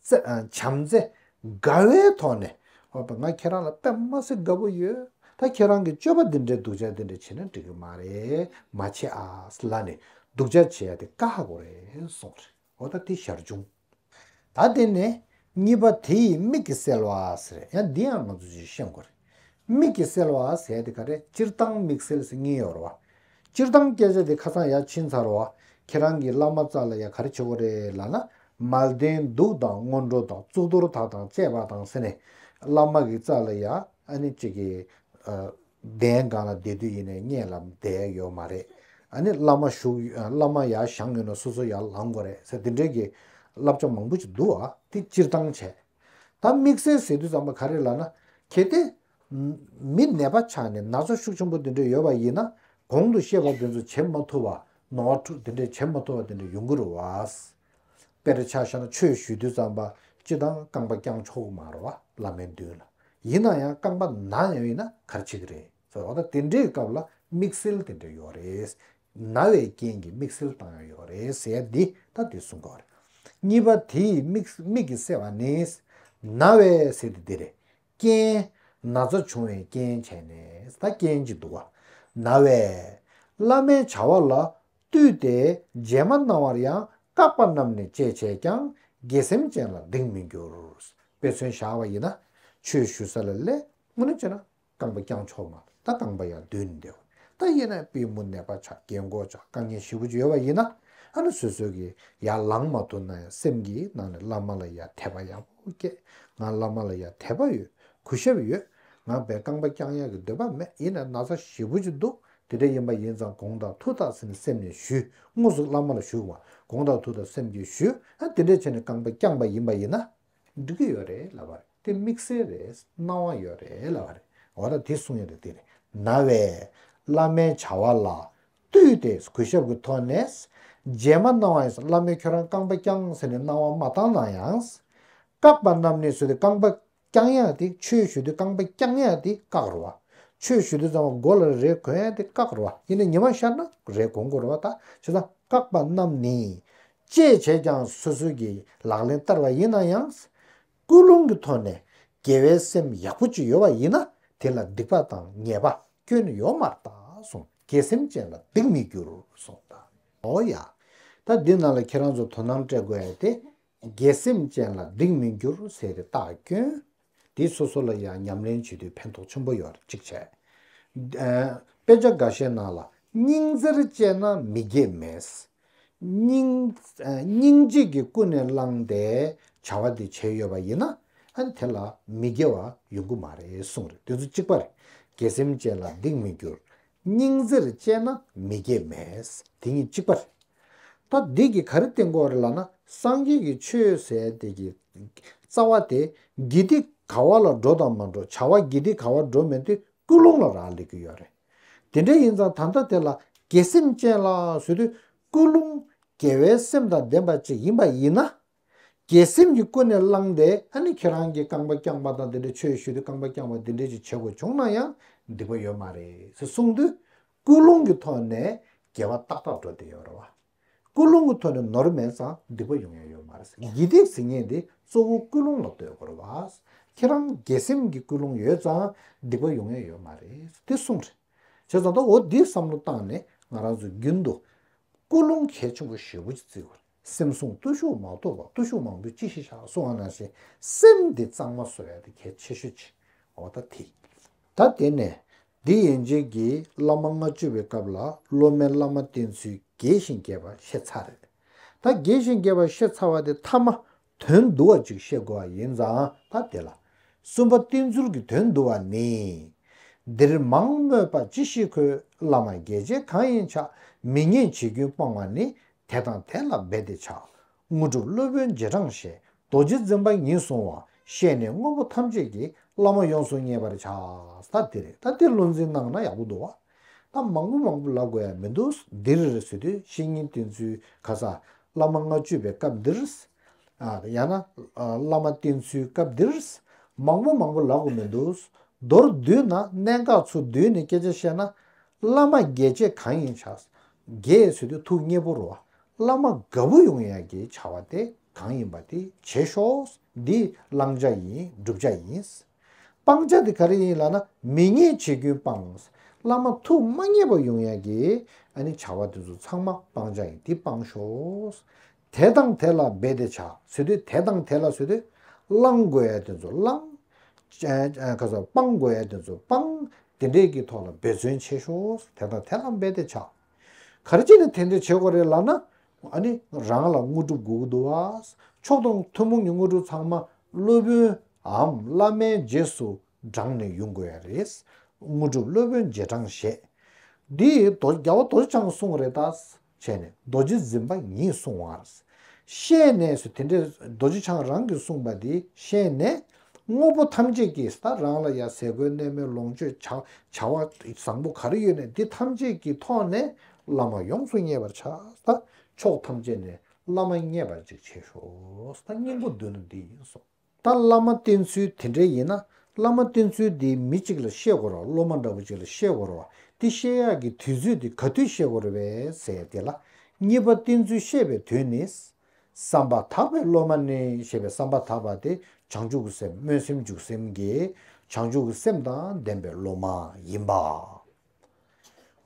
S1: བྱམས་བརྩེ། དགའ་བའི་ཐོག་ནས། ང་ཁྱེད་རང་ལ་པདྨ་སེ་དགའ་པོ་ཡོད། ད་ཁྱེད་རང་གིས་སྤྱོད་པ་འདི་འདྲའི་སྡུག་ཅག་འདི་འདྲ་བྱེད་ན་འགྲིག་གི་མ་རེད། མ་བྱེད་ཨ། ལ་ནི་སྡུག་ཅག་བྱེད་ཡ་དེ་དཀའ་ཧ་གོ་རེད་གསུངས་རེད། འོ་ད་དེ་ཞར་བྱུང། ད་དེ་ནས། གཉིས་པ་དེ་ཡི་མིག་གིས་གསལ་བ། ཡང་འདི་ཡང་ང་ཚོས་ཅིག་ཤེས་དགོས་རེད། མིག་གིས་སེལ་བ་ཟས་དེ་ག་རེ་སྤྱིར་བཏང་མིག་སེལ་སེ་ངེས་ཡོར་བ། སྤྱིར་བཏང་སྐད་ཆ་དེ་ཁ་ཚང་ཡ་ཕྱིན་ཚར་བ། ཁྱེད་རང་གིས་བླ་མ་ཙར་ལ་ཡ་ག་རེ་བྱེད་གོ་རེད་ལ་ན་མལ་བདེན་སྡུག་དང་སྔོན་འགྲོ་དང་གཙུག་ཏོར་དག་དང་བཅས་པ་དང་ཟེར་ནས་བླ་མ་གིས་ཙར་ལ་ཡ་ཨ་ནི་ཅིག་གིས་གདན་སྒང་ལ་བསྡད་དུས་ཡེ་ནས་བསྙད་ལ་བསྡད་ཡོད་མ་རེད་ཨ་ནི་བླ་མ་བཞུགས་བླ་མ་ཡ་བཞག་ཡོད་ན་སོ་སོ་ཡ་ལང་གོ་རེད་ཟེར་འདི་འདྲའི་གི་བསླབ་བྱ་མང་པོ་ཅིག་འདུག་ཨ་དེ་སྤྱིར་བཏང་བྱས། ད་དམིགས་བསལ་ཟེར་དུས་ཚང་མ་ག་རེ་ལབ་ན། གལ་ཏེ། མི་ནད་པ་ཆགས་ནས་ན་ཚ་ཤུགས་ཆེན་པོ་འདི་འདྲ་ཡོད་པ་ཡིན་ན། གོང་དུ་བཤད་པ་འདི་ཚོ་བྱེད་མ་ཐུབ་བ། ནོར་བ་འཁྲུག་འདི་འདྲ་བྱེད་མ་ཐུབ་བ་འདི་འདྲ་ཡོང་གི་རུ་བ། དཔེར་ཆ་བཤད་ན་ཆོས་ཞུ་དུས་ཙམ་པ་སྤྱི་དང་རྐང་པ་བརྐྱང་ཆོག་གི་མ་རུ་བ་བླ་མའི་མདུན་ལ། ཡིན་ན་ཡང་རྐང་པ་ན་ཡང་ཡིན་ན་གར་བྱེད་ཀྱི་རེད། ཟེར་བ་དང་དེ་འདྲའི་སྐབས་ལ་དམིགས་བསལ་དེ་འདྲ་ཡོད་རེད། ན་བའི་རྐྱེན་གྱིས་དམིགས་བསལ་བཏང་ཡོད་ཡོད་རེད་ཟེར་ཡ་འདི་ལྟ་བུས་གསུང་དགོས་རེད། གཉིས་པ་དེ་ཡི་དམིགས་ཀྱིས་བསལ་བ་ནི། ན་བའི་ཟེར་དེ་འདི་རེད། རྐྱེན། ན་ཚ་བྱུང་བའི་རྐྱེན་བྱས་ནས་ད་རྐྱེན་གྱིས་འདུག་བ། ན་བས། བླ་མའི་བྱ་བ་ལ་བཏུད་དེ་རྗེས་མ་གནང་བར་ཡང་བཀག་པ་རྣམས་ནས་སྤྱད་བྱས་ཀྱང་དགེ་སེམས་ཅན་ལ་སྡིག་མི་འགྱུར། དཔེ་མཚོན་བཞག་པ་ཡིན་ན། ཆོས་ཞུ་ས་ལ་ལས་སྔོན་ནས་བྱས་ན་རྐང་པ་བརྐྱང་ཆོག་མ་ད་རྐང་པ་ཡང་འདུལ་ནི་འདོད། ད་དབྱེ་ན་པི་མུ་ནེ་པ་ཆ་གས་མགོ་ཆ་རྐང་གཉིས་བཞི་བོ་ཅི་ཡོད་པ་ཡིན་ན། ཨ་ནུ་སོ་སོ་གི་ཡ་ལང་མ་ཐུག་ན་ཡང་སེམས་ཀྱི་ནང་ནས་བླ་མ་ལ་ཡ་དད་པ་ཡག་པོ་སྐྱེས། ང་བླ་མ་ལ་ཡ་དད་པ་ཡོད་གུས་ཞབས་ཡོད། ང་བས་རྐང་པ་བརྐྱང་ཡག་གི་འདོད་པ་མེད་ཡིན་ན་ན་ཚ་བཞི་བོ་ཅི་འདུག་དེ་འདྲ་ཡིན་པ་ཡིན་ཙང་དགོངས་དག་ཐུགས་དག་ཟིན་སེམས་ནས་ཞུས་དངོས་སུ་བླ་མ་ལ་བཞུགས་བ་དགོངས་དག་ཐུགས་དག་སེམས་ཀྱིས་ཞུས་ཨ་དེ་འདྲ་བྱས་ནས་རྐང་པ་བརྐྱངས་པ་ཡིན་པ་ཡིན་ན། འགྲིག་གི་ཡོད་རེད་ལབ་པ་རེད་དེ་དམིགས་བསལ་རེད་སྣང་བ་ཡོད་རེད་ལབ་པ་རེད་འོ་ད་དེ་གསུངས་ཡོད་རེད་དེ་རེད་ན་བས། བླ་མའི་བྱ་བ་ལ་ལྟོས་ཏེ་གུས་ཞབས་ཀྱི་ཐོག་ནས། རྗེས་མ་གནང་བ་ཡིན་བླ་མས་ཁྱོད་རང་རྐང་པ་བརྐྱངས་ཟེར་ནས་གནང་བ་མ་བཏང་ན་ཡང། བཀག་པ་རྣམས་ནས་བཟོས་ཏེ་རྐང་པ་བརྐྱངས་ཡ་དེ་ཆོས་ཞུ་དུས་རྐང་པ་བརྐྱངས་ཡ་དེ་བཀག་རུ་བ། ཆོས་ཞུ་དུས་ཙམ་མགོ་ལ་རས་གོན་ཡ་དེ་བཀག་རུ་བ་ཡིན་ན་ཉི་མ་ཤར་ན་རས་གོན་དགོས་རུ་བ་ད་བྱས་ཙང་བཀག་པ་རྣམས་ནི། བཅས་བྱས་ཀྱང་སོ་སོའི་གི་ལག་ལེན་བསྟར་བ་ཡིན་ན་ཡང། ཀུན་སློང་གི་ཐོག་ནས་དགེ་བའི་སེམས་ཡག་པོ་ཅིག་ཡོད་པ་ཡིན་ན་དེ་ལ་སྡིག་པ་དང་ཉེས་པ་སྐྱོན་ཡོད་མར་བལྟ་སོང་དགེ་སེམས་ཅན་ལ་སྡིག་མི་འགྱུར་སོང་ད། ཨོ་ཡ། ད་འདི་རྣམས་ལ་ཁྱེད་རང་ཚོ་དོ་སྣང་སྤྲད་དགོས་ཨེ་དེ། དགེ་སེམས་ཅན་ལ་སྡིག་མི་འགྱུར་ཟེར་རེ་བཏགས་སྐྱོན་དེ་སོ་སོ་ལ་ཡང་ཉམས་ལེན་བྱེད་དུས་ཕན་ཐོགས་ཆེན་པོ་ཡོད་ཅིག་བྱས། དཔེ་ཆ་འགའ་ཤས་ནང་ལ་སྙིང་རྩེར་བཅས་ན་མི་དགྱེས་མེད། སྙིང་རྗེ་གི་ཀུན་ནས་བསླངས་ཏེ་བྱ་བ་འདི་བྱས་ཡོད་པ་ཡིན་ན། དེ་ལ་མི་དགྱེས་བ་ཡོང་གི་མ་རེད་གསུངས་རེད་དེ་ཚོ་གཅིག་པ་རེད། དགེ་སེམས་ཅན་ལ་སྡིག་མི་འགྱུར། སྙིང་རྗེར་སྤྱད་ན་མི་དགྱེས་མེད། དེ་གཉིས་གཅིག་པ་རེད། ད་བདུད་ཀྱི་ག་རེ་བསྟེན་དགོས་རེད་ལ་ན་སངས་རྒྱས་ཀྱི་ཆོས་ཟད་བདེ་ཀྱི་རྩ་བ་དེ་དགེ་སྡིག་ག་བ་ལ་འགྲོ་དང་མ་འགྲོ་བྱ་བ་དགེ་སྡིག་ག་བ་འགྲོ་མེད་དེ་ཀུན་སློང་ལ་རག་ལས་ཀྱི་ཡོད་རེད། དེ་འདྲ་ཡིན་ཙང་ད་ལྟ་དེ་ལ་དགེ་སེམས་ཅན་ལ་ཟོས་དུས་ཀུན་སློང་དགེ་བའི་སེམས་དང་ལྡན་པ་ཅིག་ཡིན་པ་ཡིན་ན། ཀྱི་སེམས་ཀྱི་ཀུན་ནས་བསླངས་ཏེ་ཨ་ནི་ཁྱེད་རང་གི་རྐང་པ་བརྐྱངས་པ་དང་དེ་འདྲའི་ཆོས་ཞུས་ཏེ་རྐང་པ་བརྐྱངས་པ་འདི་འདྲའི་ཅིག་བྱེད་དགོས་བྱུང་ན་ཡང་སྡིག་པ་ཡོད་མ་རེད་ཟེར་གསུངས་དུས་ཀུན་སློང་གི་ཐོག་ནས་རྒྱལ་བ་ཏག་ཏག་འགྲོ་བསྡད་ཡོད་རེད་བ། ཀུན་སློང་གི་ཐོག་ནས་ནོར་མེད་ཙང་སྡིག་པ་ཡོང་ཡ་ཡོད་མ་རེད་ཡིད་བདེ་ཟེར་ངེས་དེ་གཙོ་བོ་ཀུན་སློང་ལ་ལྟོས་དགོས་རེད་བ། ཁྱེད་རང་གི་སེམས་ཀྱི་ཀུན་སློང་ཡོད་ཙང་སྡིག་པ་ཡོང་ཡ་ཡོད་མ་རེད་དེ་གསུངས་རེད། བྱས་ཙང་ད་འོ་འདི་བསམ་བློ་བཏང་ནས་ང་རང་ཚོས་རྒྱུན་དུ་ཀུན་སློང་གལ་ཆེན་པོ་ཞེ་དགུ་ཅིག་བརྩི་དགོས་རེད། སེམས་བཟུང་བརྟུལ་ཞུགས་མ་ཐོབ་པ་བརྟུལ་ཞུགས་མང་པོས་ཅི་ཞིག་བྱ་གསུང་བ་ན་ཞེས་སེམས་འདི་གཙང་མ་བཟོ་བས་ཏེ་གལ་ཆེ་ཤོས་ཅི། འོ་ད་དེ་ཡིན། ད་དེ་ནས་འདི་ཡན་ཆད་ཀྱི་བླ་མ་ལྔ་བཅུ་བའི་སྐབས་ལ་སློབ་མའི་བླ་མ་བསྟེན་ཚུལ་རྒྱས་ཤིང་རྒྱས་པ་ཤེས་ཚར། ད་རྒྱས་ཤིང་རྒྱས་པ་ཤེས་ཚར་བ་དེ་མཐའ་མ་དོན་བསྡུ་བ་གཅིག་ཤེས་དགོས་པ་ཡིན་ཙང་ད་དེ་ལ། གསུམ་པ་བསྟན་ཚུལ་གྱི་དོན་བསྡུ་བ་ནི། འདིར་མང་སྨོས་པ་ཅི་ཞིག་གོ། བླ་མ་རྒྱལ་བྱེད་གང་ཡིན་ཆ་མི་ཉན་བྱེད་རྒྱུན་སྤང་བ་ནི། དེ་དང་དེ་ལ་འབད་དེ་བྱ། དངོས་གྲུབ་སློབ་དཔོན་རྗེས་འབྲང་ཞེས་རྡོ་རྗེ་འཛིན་པ་ཉིད་གསུང་བ་ཤེས་ནས་དངོས་པོ་ཐམས་ཅད་ཀྱི་བླ་མ་ཡོངས་སུ་མཉེས་པར་བྱ། ད་དེ་རེད་ད་དེ་བློ་འཛིན་གནང་ན་ཡག་པོ་འདུག་བ། གཏམ་མང་པོ་མང་པོ་ལབ་དགོས་ཡ་མི་འདུག་འདིར་བཟོད་དུས་བཤེས་གཉེན་བསྟེན་ཚུལ་ག་ས། བླ་མ་ལྔ་བཅུ་པའི་སྐབས་འདིར། ཡང་ན། བླ་མ་བསྟེན་ཚུལ་སྐབས་འདིར། མང་པོ་མང་པོ་ལབ་དགོས་མི་འདུག། མདོར་བསྡུས་ན་གནད་འགག་ཚོ་བསྡུས་ནས་སྐད་ཆ་བཤད་ན། བླ་མ་རྒྱལ་བྱེད་གང་ཡིན་བྱ། རྒྱལ་བཟོད་དུས་ཐུགས་མཉེས་པོར་བ། བླ་མ་དགའ་བོ་ཡོང་ཡ་གྱི་བྱ་བ་དེ་གང་ཡིན་པ་དེ་བྱེད་ཤོག་འདི་བླང་བྱ་ཡིན་བསྒྲུབ་བྱ་ཡིན། སྤང་བྱ་དེ་ག་རེ་ཡིན་ལགས་ན་མི་མཉེས་བྱེད་རྒྱུན་སྤངས། བླ་མ་ཐུགས་མ་མཉེས་པ་ཡོང་ཡང་གི། ཨ་ནི་བྱ་བ་དེ་ཚོ་ཚང་མ་སྤང་བྱ་ཡིན་དེ་སྤང་ཞོགས། དེ་དང་དེ་ལ་འབད་དེ་བྱ་བཟོད་དུས་དེ་དང་དེ་ལ་བཟོད་དུས། བླང་དགོས་ཡ་དེ་ཚོ་བླང། སྤང་དགོས་ཡ་དེ་ཚོ་སྤང། དེ་འདྲས་ཀྱི་ཐོག་ལ་འབད་བརྩོན་བྱེད་ཞོགས། དེ་དང་དེ་ལ་འབད་དེ་བྱ། ག་རེ་བྱས་ནས་དེ་འདྲས་བྱེད་དགོས་རེད་ལགས་ན། ཨ་ནི་རང་ལ་དངོས་གྲུབ་དགུག་བསྡུ་བ། མཆོག་དང་ཐུན་མོང་གི་དངོས་གྲུབ་ཚང་མ་སློབ་དཔོནའམ་བླ་མའི་རྗེས་སུ་འབྲངས་ནས་དབྱུང་དགོས་ཡ་རེད། དངོས་གྲུབ་སློབ་དཔོན་རྗེས་འབྲངས་བཞེད། འདི་རྒྱལ་བ་རྡོ་རྗེ་འཆང་གསུངས་རེད་ད། བྱས་ནས་རྡོ་རྗེ་འཛིན་པ་ཉིད་གསུང་བ། བཤད་ནས་སུ་དེ་འདྲས་རྡོ་རྗེ་འཆང་རང་གིས་གསུངས་པ་དེ་བཤད་ནས། དངོས་པོ་ཐམས་ཅད་ཀྱི་ད་རང་ལ་ཡ་ཟས་གོས་གནས་མལ་ལོངས་སྤྱོད་བྱ་བ་བཟང་པོ་ག་རེ་ཡོད་ནས་དེ་ཐམས་ཅད་ཀྱི་ཐོག་ནས་བླ་མ་ཡོངས་སུ་མཉེས་པར་བྱ། ཕྱོགས་ཐམས་ཅད་ནས་བླ་མ་མཉེས་པར་ཅིག་བྱེད་ཤོག། སྙིང་པོ་བདུན་ནི་འདི་ཡིན་སོགས། ད་བླ་མ་བསྟེན་ཚུལ་དེ་འདྲའི་ཡིན་ན་བླ་མ་བསྟེན་ཚུལ་འདི་མི་གཅིག་ལ་ཤེས་དགོས་རོགས་སློབ་མ་འདྲ་བོ་གཅིག་ལ་ཤེས་དགོས་རོགས་དེ་ཤེས་ཡག་གི་དུས་ཚོད་དེ་ག་དུས་ཤེས་དགོས་རོགས་བས་ཟེར་དེ་ལ། གཉིས་པ་བསྟེན་ཚུལ་ཤེས་པའི་དུས་ནི། བསམ་པ་དག་པའི་སློབ་མ་ནི་ཞེས་པའི་བསམ་པ་དག་པ་དེ་བྱང་ཆུབ་ཀྱི་སེམས་སྨོན་སེམས་འཇུག་སེམས་ཀྱི་བྱང་ཆུབ་ཀྱི་སེམས་དང་ལྡན་པའི་སློབ་མ་ཡིན་པ།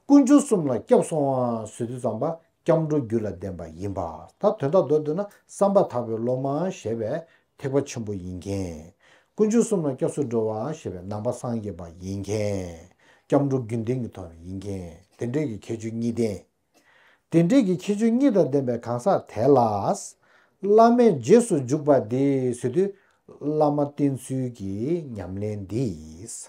S1: ཀུན་སྦྱོར་གསུམ་ལ་སྐྱབས་སོང་བ་ཟོས་དུས་ཙམ་པ་སྐྱབས་འགྲོ་རྒྱུད་ལ་ལྡན་པ་ཡིན་པ་ད་དོན་དག་མདོར་བསྡུ་ན་བསམ་པ་དག་པའི་སློབ་མ་ཞེས་པའི་ཐེག་པ་ཆེན་པོ་ཡིན་མཁན། ཀུན་སྦྱོར་གསུམ་ལ་སྐྱབས་སུ་འགྲོ་བ་ཞེས་པའི་ནང་པ་སངས་རྒྱས་པ་ཡིན་མཁན། སྐྱབས་འགྲོ་རྒྱུན་ལྡན་གྱི་དོན་ཡིན་མཁན་དེ་འདྲས་ཀྱི་ཁྱད་ཆོས་གཉིས་ལྡན། དེ་འདྲས་ཀྱི་ཁྱད་ཆོས་གཉིས་དང་ལྡན་པའི་གང་ཟག་དེ་ལ། བླ་མས་རྗེས་སུ་འཇུག་པ་འདི་ཟོས་དུས་བླ་མ་བསྟེན་ཚུལ་གྱི་ཉམས་ལེན་འདིས།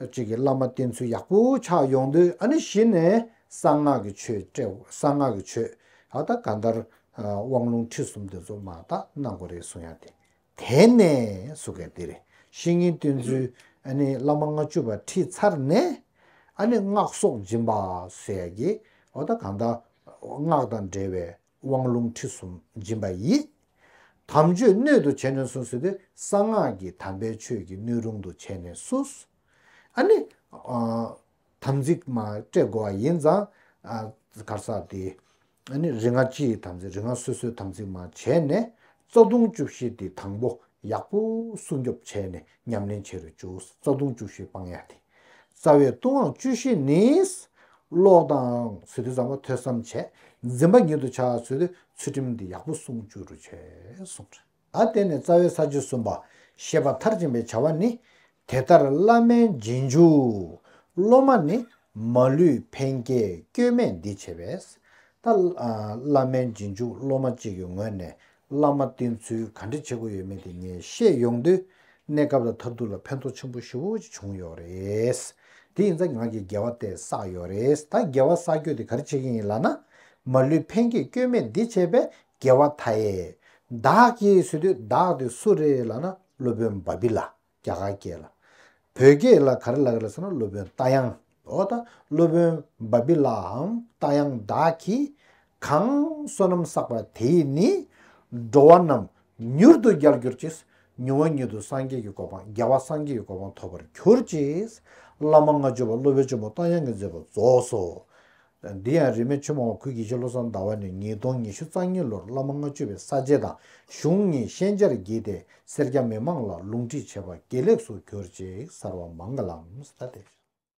S1: གཅིག་གིས་བླ་མ་བསྟེན་ཚུལ་ཡག་པོ་ཆགས་ཡོང་དུས་ཨ་ནི་གཞི་ནས་གསང་སྔགས་ཀྱི་ཆོས་སྤྲེའུ་གསང་སྔགས་ཀྱི་ཆོས་ད་ལྟ་ག་འདར་དབང་ལུང་ཁྲིད་གསུམ་དེ་ཚོ་མ་དག་ན་གོ་རེ་གསུང་ཡང་དེ་དེ་ནས་སུ་ག་དེ་རེ་བཤེས་གཉེན་བསྟེན་ཚུལ་ཨ་ནི་བླ་མ་ལྔ་བཅུ་བ་ཁྲིད་ཚར་ནས་ཨ་ནི་སྔགས་སོགས་སྦྱིན་པ་ཟེར་ཡ་གི་ཨོ་ད་ག་འདར་སྔགས་དང་འབྲེལ་བའི། དབང་ལུང་ཁྲིད་གསུམ་སྦྱིན་པ་ཡིས། དམ་ཆོས་སྣོད་དུ་བྱས་ནས་སུ། གསོལ་བའི་གསང་སྔགས་ཀྱི་དམ་པའི་ཆོས་ཀྱི་སྣོད་རུང་དུ་བྱས་ནས་སུ། ཨ་ནི། དམ་ཚིག་མ་སྤྲད་བསྒོ་བ་ཡིན། གར་ས་ཏེ། ཨ་ནི་རིག་སྔགས་སྤྱི་ཡི་དམ་ཚིག་རིག་སྔགས་སོ་སོའི་དམ་ཚིག་མ་བྱས་ནས། རྩ་ལྟུང་བཅུ་བཞི་སྟེ་དང་པོ། ཡག་པོ་སྲུང་སྐྱོབ་བྱས་ནས་ཉམས་ལེན་བྱེད་རུ་བཅུག་རྩ་ལྟུང་བཅུ་བཞི་སྤང་ཡ་སྟེ། རྩ་བའི་ལྟུང་བ་བཅུ་བཞི་ནི། ལོག་ལྟ་འང་ཚུལ་འདི་བཟང་བ་ཐོས་བསམ་བྱས། འཛིན་པ་ཉིད་དུ་བྱ་བར་ཚུལ་ཚུལ་ཁྲིམས་འདི་ཡག་པོ་བསྲུང་བཅུ་རུ་བྱས་གསུངས། ལ་བརྟེན་ནས་རྩ་བའི་ས་བཅུ་གསུམ་པ་ཞེས་པ་མཐར་ཕྱིན་པའི་བྱ་བ་ནི། དེ་ལྟར་བླ་མའི་རྗེས་འཇུག་སློབ་མ་ནི། མ་ལུས་ཕན་བསྐྱེད་སྐྱོན་མེད་འདི་བྱས་པས། ད་བླ་མའི་རྗེས་འཇུག་སློབ་མ་གཅིག་གི་ངོས་ནས་བླ་མ་བསྟེན་ཚུལ་ག་འདྲི་བྱེད་དགོས་ཡོད་མེད་དེ་ངས་བཤད་ཡོང་དུས། གནས་སྐབས་ལ་ཐབས་སྡུག་ལ་ཕན་ཐོགས་ཆེན་པོ་ཞུ་བོ་ཅིག་བྱུང་ཡོད་རེད། དེ་ཡིན་ཙང་ང་གིས་དགེ་བ་སྟེ་བསགས་ཡོད་རེད་ད་དགེ་བ་བསགས་རྒྱུ་དེ་ག་རེ་བྱེད་ཀྱིན་ཡིན་ལགས་ན། མ་ལུས་ཕན་སྐྱེད་སྐྱོན་མེད་འདི་བྱས་པས་དགེ་བ་མཐའ་ཡས། བདག་གིས་བཟོས་དུས་བདག་དེ་སུ་རེད་ལགས་ན་སློབ་དཔོན་འབའ་བི་ལགས། རྒྱ་གར་སྐད་ལ། བོད་སྐད་ལ་ག་རེ་ལགས་རེད་ཟེར་ན་སློབ་དཔོན་རྟ་དབྱངས། འོ་ད་སློབ་དཔོན་འབའ་འབི་ལའང་རྟ་དབྱངས་བདག་གིས་གང་བསོད་ནམས་བསགས་པ་དེས་ནི། འགྲོ་བ་རྣམས་མྱུར་དུ་རྒྱལ་གྱུར་ཅིག། མྱུར་བ་མྱུར་དུ་སངས་རྒྱས་ཀྱི་གོ་འཕང་རྒྱལ་བ་སངས་རྒྱས་ཀྱི་གོ་འཕང་ཐོབ་པར་གྱུར་ཅིག། བླ་མ་ལྔ་མཆོད་པ་སློབ་དཔོན་ཆེན་པོ་རྟ་དབྱངས་ཀྱི་མཛད་པ་རྫོགས་སོ། འདི་ཡང་རིས་མེད་ཆོས་མང་བ་ཁུལ་གྱིས་ཤོ་ལོ་སང་ཟླ་བ་ནས་ཉིས་སྟོང་ཉི་ཤུ་རྩ་གཉིས་ལོར་བླ་མ་ལྔ་བཅུ་བའི་ས་བཅད་དང་གཞུང་གཉིས་ཤན་སྦྱར་བགྱིས་ཏེ་སེར་སྐྱ་མི་མང་ལ་ལུང་ཁྲིད་བྱས་པ་དགེ་ལེགས་སུ་གྱུར་ཅིག་གསར་བ་མང་གི་ལམ་སྟེ།